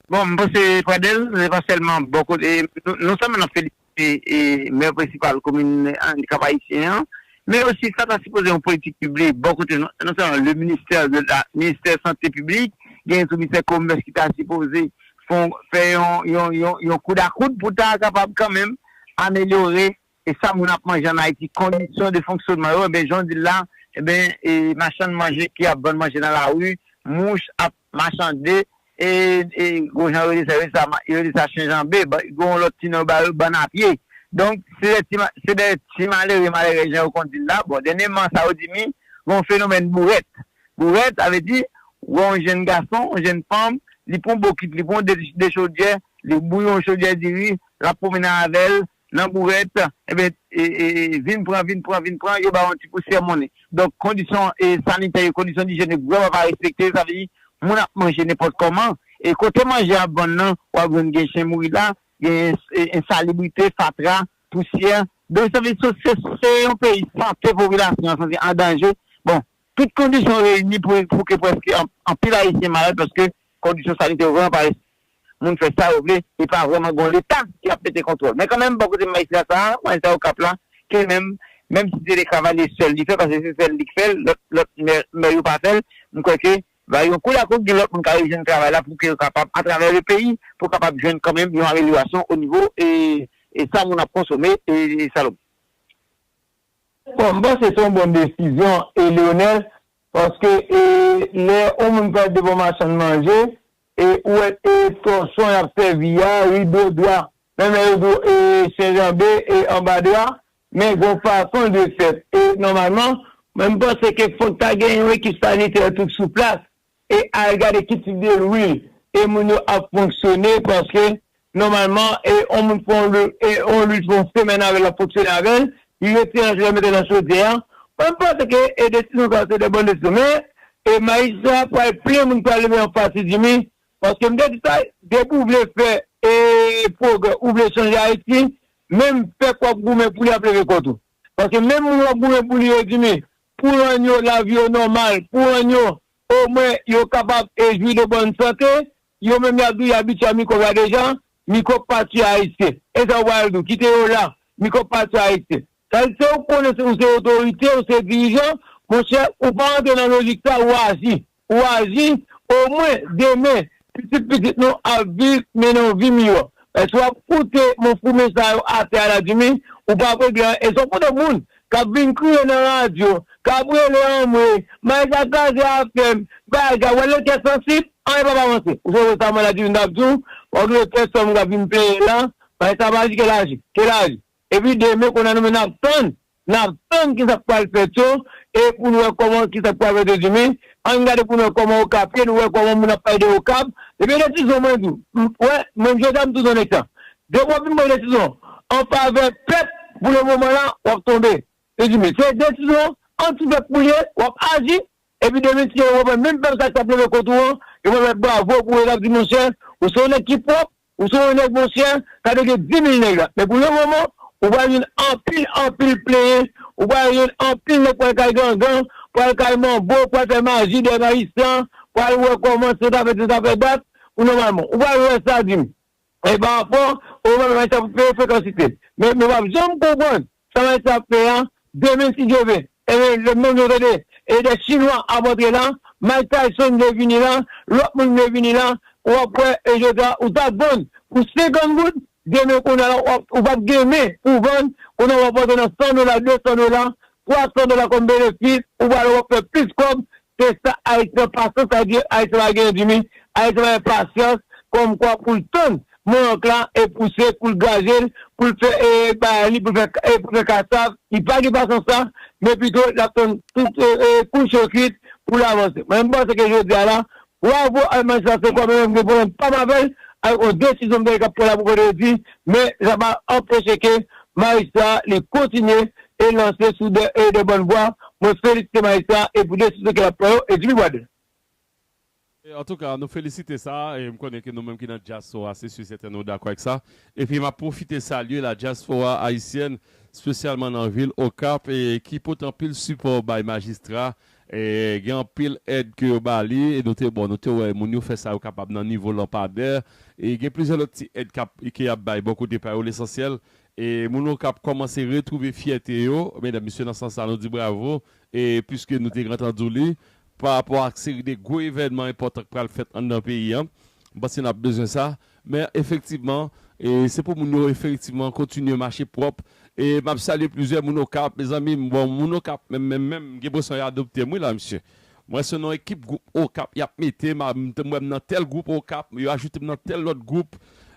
Bon, m panse Pradel, se pa sèlman bò kote, non sèlman n ap felisite Mè prensipal komin Andikap Ayisyen an, men osi sa ta sipoze yon politik piblik bò kote non sèlman le ministè de la, ministè sante piblik, genyen tou ministè komès ki ta sipoze fè yon koudakout pou ta kapab kanmenm amelyore E sa moun ap manje an Ayiti, kondisyon de fonksyonman yo, enben jan w di l la, enben e machann manje ki ap vann manje nan lari, mouch ap machande, e e gwo jan yo rele sa, yo rele sa ma, yo rele sa chen janbe, ba gen yon lòt ti non yo ba yo, bann a pye. Donk, se dè ti ma, se dè ti malere, malèrèz jan yo konn di l la. Bon, dènyèman sa yo di mi, gen yon fenomèn bourèt. Bourèt, sa vle di, ou wè yon jenn gason, yon jenn fanm, li pran yon bokit, li pran yon de, dechodyè, li bouyon yon chodyè diri, l ap pwomennen avè l, Nan bourèt, enben, vin pran, vin pran, vin pran, yo ba ou yon ti pousyè monnen. Donk, kondisyon sanitè yo, kondisyon dijyèn yo vrèman pa respekte, sa vle di, moun ap manje nenpòt kòman, e kote manje a ap vann nan, w ap jwenn gen chen mouri la, gen ensalibrite, fatra, pousyè. Donk, sa vle di, se yon peyi sante popilasyon an santi an danje. Bon, tout kondisyon reyini pou ke prèske anpil Ayisyen malad paske kondisyon sanitè yo vrèman pa respekte. Moun fè sa yo vle, e pa vrèman gon leta ki ap mete kontwòl. Men kanmenm bò kote Maïsla sa a, Maïsla Okap la, ke menm, menm si se de Cavalier sèl li fè, paske se sèl li k fè l, lòt, lòt mè, mè yo pa fè l, m kwè ke va yon kou la kou gen lòt moun k a rejwenn travay la pou ke yo kapab atravè le peyi, pou kapab jwenn kanmenm yon amelyorasyon o nivo e, e sa moun ap konsome e sa lòt. Bon, m panse se yon bon desizyon e Leonel, paske e lè yon moun pral de bon machann manje, E ou wè e tòchon yap sèvi a wi bro dwa men men yo dou e chenjanbe e anba dwa men gon fason dwe fèt e nòmalman. Mwen m panse ke fòk ta gen yon ekip sanitè tout sou plas e al gade ki tip de lwil e moun yo ap fonksyone paske Nòmalman, e yon moun fè yon luit pou yon semèn avè l, l ap fonksyone avè l, li retire anj la mete l nan chodyè a. Mwen m panse ke e desizyon sa yo se de bon desizyon men e majistra a pral plen moun ki pral leve anfas li di mi paske m te di sa depi w vle fè e pwogrè ou vle chanje Ayiti menm pèp w ap goumen pou li ap leve kont ou paske menm moun w ap goumen pou li yo di mi pou rann yo lavi yo nòmal pou rann yo omwen yo kapab e jwi de bòn sante Yo menm yap di yap bicha micro a deja, micro pa ti ayisyen. Esa ou pral di, kite yo la, micro pa ti ayisyen. Sa vle di se ou konnen ou se otorite, ou se dirijan, monchè ou pa antre nan lojik sa ou aji. Ou aji, omwen demen pitit pitit nou ap viv mennen yon vi miyò. Paske wap koute monfoume sa yo atè a la dimi, ou pap regle anyen. Esa ou konnen moun Kap vin kriye nan radyo, kap rele anmwee, may sa kraze afèm, bagay, wè le kè sansib, anyen pap avanse. Ou sonje sa mwen la di nou tap di w, wap gen kè sanm ou kap vin plenyen la, may sa ap aji kel aji, kel aji. Epi demen konnya nou menm nap tann, nap tann kisak pral fèt yo e poun wè kòman kisak pral fèt yo di men ann gade poun wè kòman okap ye nou wè kòman moun ap pale de okap depi e de tizon mwen di w, wè menm jodi a m toujou nan nèg sa Depi wap vin pran desizyon an favè pèp pou le moman la wap tonbe prezime se desizyon anti pèp ou ye wap aji epi demen si yo wap wè menm pèp sa ki tap leve kont ou an yo pap bat bravo pou ou yo tap di monchè ou se yon nèg ki pwòp ou se yon nèg monchè ka te gen 10.000 nèg la men pou le moman ou pral jwenn anpil anpil plenyen ou pral jwenn anpil nèg pral kay gangan pral kay manbo pral fè maji dèyè majistra pral wè kòman se ta fèt se ta fè dat pou nòmalman ou pral wè sa dim E pa fò, ou menm Ayiti ap peye frekansite. Men nou pap janm konprann sa Ayiti ap fè a demen si Dye vle. Ebyen lè menm nou tande e dè chinwa ap antre la, Mike Tyson vle vini la, lòt moun vle vini la, ou ap wè e jodi a ou tap vann pou 50 goud, demen kounye a la ou pap gen men pou vann, kounye a wap antre nan 100 dola, 200 dola, 300 dola kòm benefis ou pral wè wap fè plis kòb se sa ayisyen an pasyans sa vle di ayisyen pa gen dimi ayisyen pa gen pasyans kòm kwa poul tann mank la e pouse poul gajel poul fè e bagay li poul fè poul fè kasav li pa gen pasyans sa men pito lap tann tout e kouche yo kwit poul avanse mwen panse ke jodia la Waw pou almatch la se kòmè menm gen pwoblèm pam avèl ak yon desizyon m tande kap pran la pou kote yo di men sa pa anpeche ke Maestro a li kontinye e lanse sou de e de bòn vwa mwen felisite Maestro a e pou desizyon ke lap pran yo e Jimmy Wade. Antouka nou felisite sa e m konnen ke nou menm ki nan dyaspora se si sèten nou dakò ak sa epi map pwofite salye la dyaspora ayisyèn spesyalman nan vil Okap e ki pote anpil sipò bay majistra Gen anpil èd ke yo ba li e nou te bon nou te wè moun yo fè sa yo kapab nan nivo lanpadè e gen plizyè lòt ti èd kap ke yap bay bò kote pa yo lesansyèl e moun okap kòmanse retwouve fyète yo medam mesye nan sans sa nou di bravo e pwiske nou te gen antandu li pa rapò ak seri de gwo evènman enpòtan k pral fèt anndan peyi an m panse nap bezwen sa Men efektivman se pou moun yo efektivman kontinye mache pwòp e map salye plizyè moun okap mezanmi bon moun okap menm menm menm m gen presyon y adoptem wi la mesye m wè se nan ekip gwoup okap yap metem a m wè m nan tèl gwoup okap yo ajoutem nan tèl lòt gwoup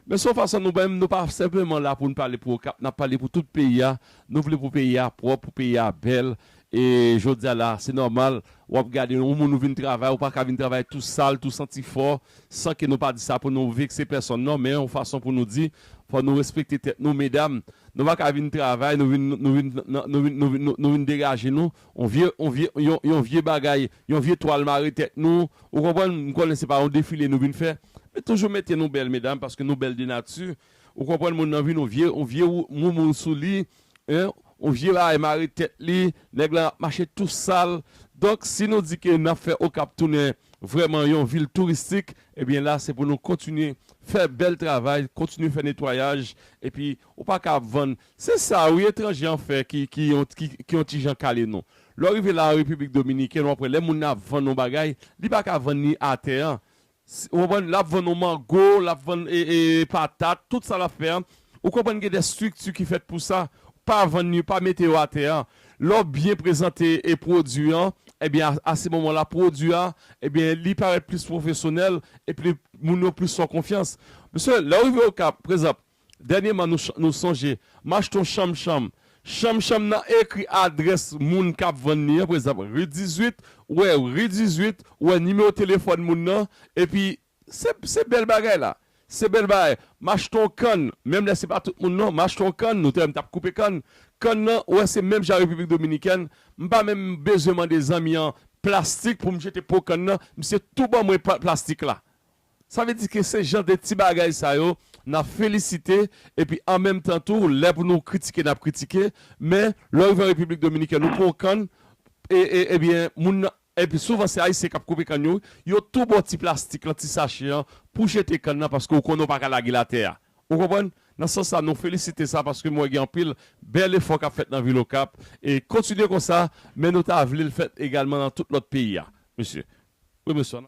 men son fason nou menm nou pa senpleman la poun pale pou okap nap pale pou tout peyi a nou vle pou peyi a pwòp pou peyi a bèl E jodia la se nòmal wap gade yon moun ou vin travay ou paka vin travay tou sal tou santi fò san ke nou pa di sa pou nou vekse pèsòn non men yon fason pou nou di fò nou respekte tèt nou medam nou paka vin travay nou vin nou vin nou vin nou vin nou vin degaje nou yon vye yon vye yon yon vye bagay yon vye twal mare tèt nou ou konprann m konnen se pa yon defile nou vin fè men toujou mete nou bèl medam paske nou bèl de nati ou konprann moun nan vin yon vye yon vye yon moun moun sou li Hein on vye bagay mare tèt li nèg lan ap mache tou sal donk si nou di ke nap fè okap tounen vrèman yon vil touristik ebyen la se pou nou kontinye fè bèl travay kontinye fè netwayaj epi ou pa ka ap vann se sa wi etranje an fè ki ki ki yon ti jan kale nou lè w rive la an repiblik dominiken wap wè lè moun nan ap vann yon bagay li pa ka vann ni atè an Ou konprann? Lap vann ou mango, lap vann patat, tout sa lap fè an. Ou konprann gen de strikti ki fèt pou sa. Pa vann yo, pa mete yo atè an. Lè w byen prezante pwodui an, ebyen a se moman la pwodui a, ebyen li parèt plis pwofesyonèl epi moun yo plis fè w konfyans. Mesye, lè w rive Okap, prezanp, Dènyeman nou sonje macheton chanm chanm. Chanm chanm nan ekri adrès moun k ap vann li an, prezanp, ri 18, ou wè ri 18, ou wè nimewo telefòn moun nan, epi se bèl bagay la. Se bèl bagay. Macheton kann, menm lè se pa tout moun non, macheton kann, nou te wè m t ap koupe kann, kann nan ou wè se menm jan Repiblik Dominikèn, m pa menm bezwen mande zanmi an plastik pou m jete po kann nan, misye tou ban mwen plastik la. Sa vle di ke se jan de ti bagay sa yo n ap felisite epi an menm tan tou lè pou nou kritike n ap kritike men lè w rive an Repiblik Dominikèn ou pran yon kann e ebyen moun nan epi souvan se Ayisyen k ap koupe kann yo wi yo tou ba w ti plastik lan ti sache an pou w jete kann nan paske ou konnen ou pa ka lage l atè a ou konprann nan sans sa nou felisite sa paske m wè gen anpil bèl efò k ap fèt nan vil Okap e kontinye konsa men nou ta vle l fèt egalman nan tout lòt peyi a mesye wi mesye.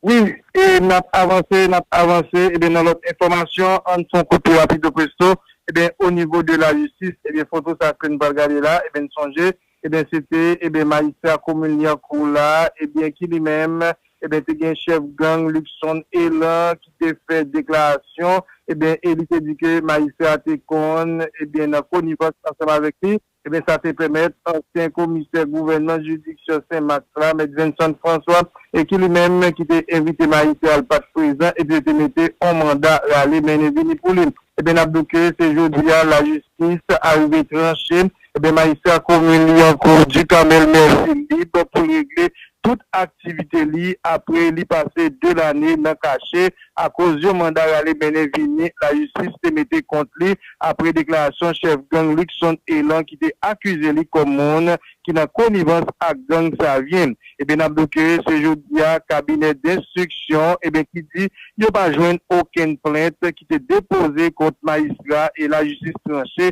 Wi e nap avanse nap avanse ebyen nan lòt enfòmasyon ann fon kout tou rapido presto ebyen onivo de la jistis ebyen foto sa kenn pral gade la ebyen n sonje ebyen se te ebyen majistra komin lyankou la ebyen ki li menm ebyen te gen chèf gang Luckson Elan ki te fè deklarasyon ebyen e li te di ke majistra te konn ebyen nan konivans ansanm avèk li. Ebyen sa te pèmèt ansyen komisè gouvènman jiridiksyon Sen Mak la, mèt Venson François, e ki li menm ki te envite Maïté al pat prezan epi yo te mete on manda rale mennen vini pou li. Ebyen nap di w ke se jodi a lajistis arive tranche ebyen majistra komin Lyankou Ducamel Mercy lib pou l regle tout aktivite li apre li pase 2 lane nan kache akoz yon manda rale mennen vini lajistis te mete kont li apre deklarasyon chèf gang Luckson Elan ki te akize li kòm moun ki nan konivans ak gang Savyen. Eben nap do ke se jodi a kabinè denstriksyon eben ki di yo pa jwenn okenn plent ki te depoze kont majistra e lajistis tranche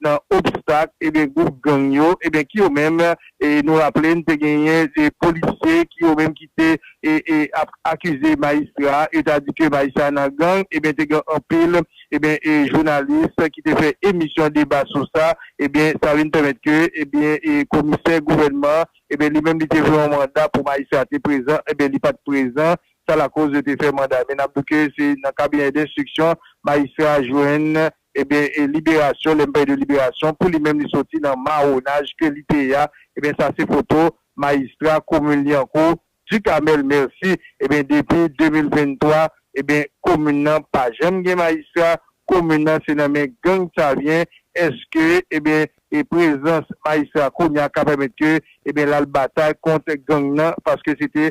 nan obstak ebyen gwoup gang yo ebyen ki yo menm e nou raple n te genyen e polisye ki yo menm ki te e e ap akize majistra a yo ta di ke majistra a nan gang ebyen te gen anpil ebyen e jounalis ki te fè emisyon deba sou sa ebyen sa vin pèmèt ke ebyen e komisè gouvènman ebyen li menm li te vle yon manda pou majistra te prezan ebyen li pat prezan sa lakoz yo te fè manda men n ap di w ke se nan kabinè denstriksyon majistra a jwenn Ebyen e liberasyon lè m pale de liberasyon pou li menm li soti nan mawonaj ke li te ye a ebyen sa se foto majistra komin Lyankou Ducamel Mercy ebyen depi 2023 ebyen komin nan pa janm gen majistra komin nan se nan men gang savyen eske ebyen e prezans majistra kounya ka pèmèt ke ebyen l al batay kont gang nan paske se te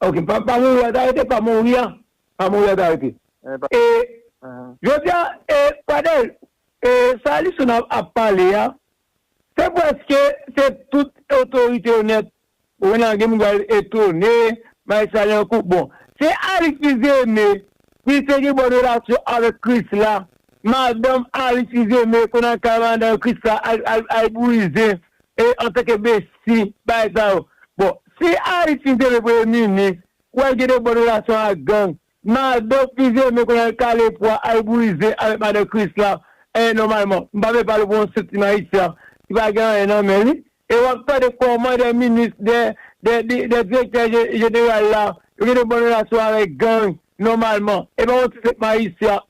Ok pa pa mouri wap arete pa mouri an pa mouri wap arete. E Jodi a e Pradel e sa Alison ap pale a se preske se tout otorite yo nèt ou konn nan gen moun ki pral etone bay sa nan kou bon se Alix Fils-Aimé ki te gen bon relasyon avèk Chrisla madanm Alix Fils-Aimé konn al kay madanm Chrisla al al brize E antanke besti bagay sa yo. Bon si Haïtien te vle premye minis ou wèl gen de bòn relasyon ak gang madan plizyè men kounye a li kale pwa al brize avèk madan Krisla eh nòmalman m pa vle pale pou yon sèl ti Haïtien ki pa gen anyen nan men li e wap tande kòman de minis de de direktè jeneral la yo gen de bòn relasyon avèk gang nòmalman e pa yon ti sèl Haïtien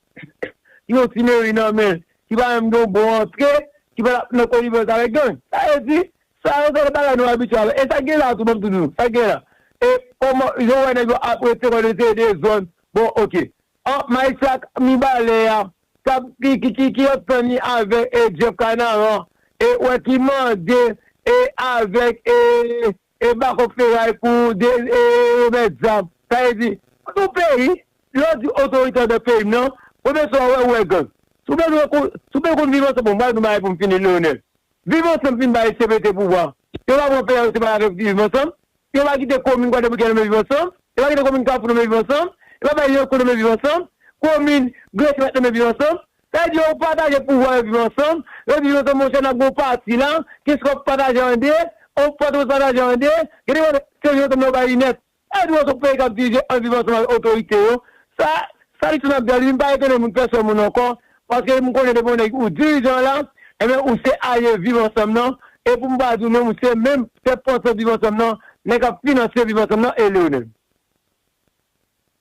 yon ti meri nan men l, ki pa menm gen yon bon antre, ki pa tap nan konivans avèk gang. Sa vle di, sa yo se lòt bagay nou abitye avè l. E sa k gen la tou, ban m tou di nou, sa k gen la, e kòman, jan w wè nèg yo ap rete kòlè se dezòd, bon ok. An, Majistra Mibalè a, k ap, ki, ki antann li avèk Jeff Canaran, e ou wè ki mande, e avèk, e E bakòk feray pou ou de e remèt zam. Sa vle di, kont yon peyi, lè yo di otorite an nan peyi m nan, premye sa ou wè, ou wè gang. Si w bezwen kon, si w bezwen konn viv ansanm, bon m pral di w yon bagay pou m fini Leonel. Viv ansanm fin bay cpt pouvwa. Yo pa pran peyi a yo se pa avèk viv ansanm. Yo pa kite komin Kwadèboukè nome viv ansanm. Yo pa kite komin Kafou nome viv ansanm. Yo pa bay yon kò nome viv ansanm. Komin Glèchè pa t nome viv ansanm. Èd yo ou pataje pouvwa yo viv ansanm, yo di yo tou monchè nap gen yon pati la, kès wap pataje an 2, yon pati wap pataje an 2, gen de kote se yon tande yo bay li nèt. Èd ou an son peyi kap dirije an viv ansanm avèk otorite yo, sa sa li tounap di a li vin pa etone moun pèsòn moun ankò, paske m konnen depi yon nèg ou dirijan la, enben ou se alye viv ansanm nan, e pou m pa di w menm ou se menm tèt pansant viv ansanm nan, nèg kap finanse viv ansanm nan e Leonel.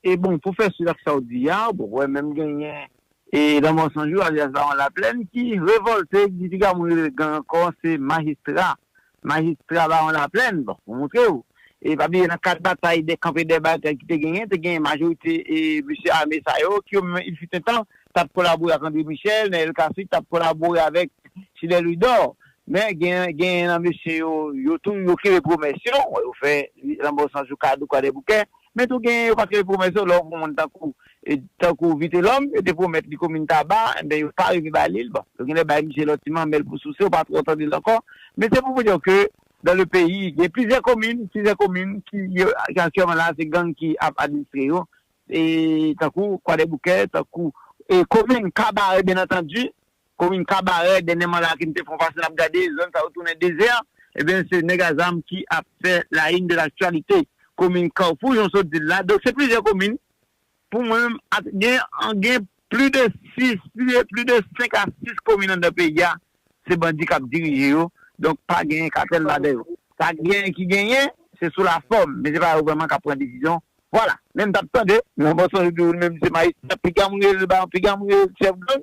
E bon pou fè suit ak sa w di a, ou poko wè menm genyen e Lanmò San Jou alyas Bawon Laplèn ki revòlte di piga moun rele l gang ankò se Majistra, Majistra Bawon Laplèn bon pou montre w. E pa bliye nan kad batay dè kanpe dè batay ki te genyen te genyen majorite e mesye ame sa yo ki yo menm il fut un temps t ap kolabore ak André Michel, Nènèl Kasi t ap kolabore avèk Chilè Louidò men genyen genyen nan mesye yo yo tou yo kenbe pwomès yo bon yo fè Lanmò San Jou kado kwadèboukè. Men tou genyen yo pa kenbe pwomès yo, lè w pran moun tankou tankou Vitelòm, yo te pwomèt li komin Taba, enben yo pa rive ba li l, bon yo genlè bay misye lòt ti manmèl pou souse, ou pa twò tande l ankò, men se pou w di w ke dan le peyi gen plizyè komin, plizyè komin ki aktyèlman la se gang ki ap administre yo, tankou Kwadèboukè, tankou komin Kabarè byen antandi. Komin Kabarè, dènyèman la ke m te fon pase nap gade, zòn sa yo tounen dezè, ebyen se nèg a zam ki ap fè la une de l'actualité komin Kawfou jan w sot di l la, donk se plizyè komin pou mwen menm ak gen an gen pli de 6, pli de 5 a 6 komin anndan peyi a se bandi kap dirije yo, donk pa genyen katèl ladan yo. Sa genyen ki genyen se sou la fòm, men se pa yo vrèman kap pran desizyon Vwala, men m t ap tande nan bò sonje di ou li menm se majistra piga moun rele l baron piga moun rele l chèf gang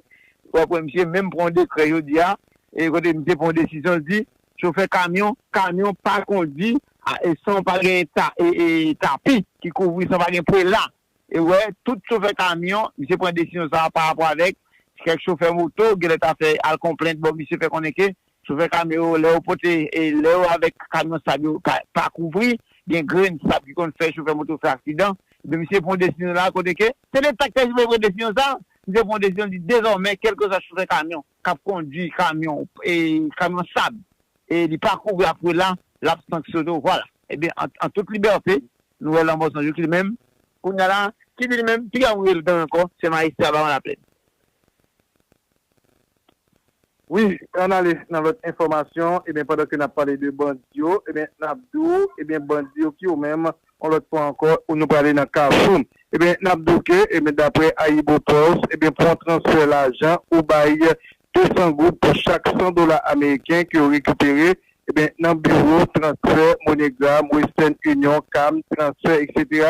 w ap wè misye menm pran yon dekrè jodi a e kote misye pran yon desizyon l di chofè kamyon kamyon pa kondi a e san pa gen ta e e tapi ki kouvri san pa gen prela e wè tout chofè kamyon misye pran desizyon sa a parapò avèk kèk chofè moto genlè ta fè al konplent bò misye fè konnen ke Chofè kamyon yo lè yo pote lè yo avèk kamyon sab yo ka pa kouvri gen grenn sab ki konn fè chofè moto fè aksidan ebyen misye pran yon desizyon la kote ke se leta ki ta sipoze pran desizyon sa misye pran yon desizyon li di dezòmè kèlkeswa chofè kamyon kap kondwi kamyon kamyon sab e li pa kouvri apre la lap sanksyone vwala ebyen an tout libète nou wè lanmò san jou ki li menm kounya la ki di li menm piga mwen rele gang ankò se majistra baron laplèn. Wi an ale nan lòt enfòmasyon ebyen pandan ke nap pale de bandi yo ebyen nap di w ebyen bandi yo ki yo menm yon lòt fwa ankò nou prale nan kafou ebyen nap di w ke ebyen daprè Ayibopost ebyen pou yon transfè lajan ou bay 200 goud pou chak 100 dola ameriken ke yo rekipere ebyen nan biwo transfè MoneyGram, Western Union, Cam, Transfer etc.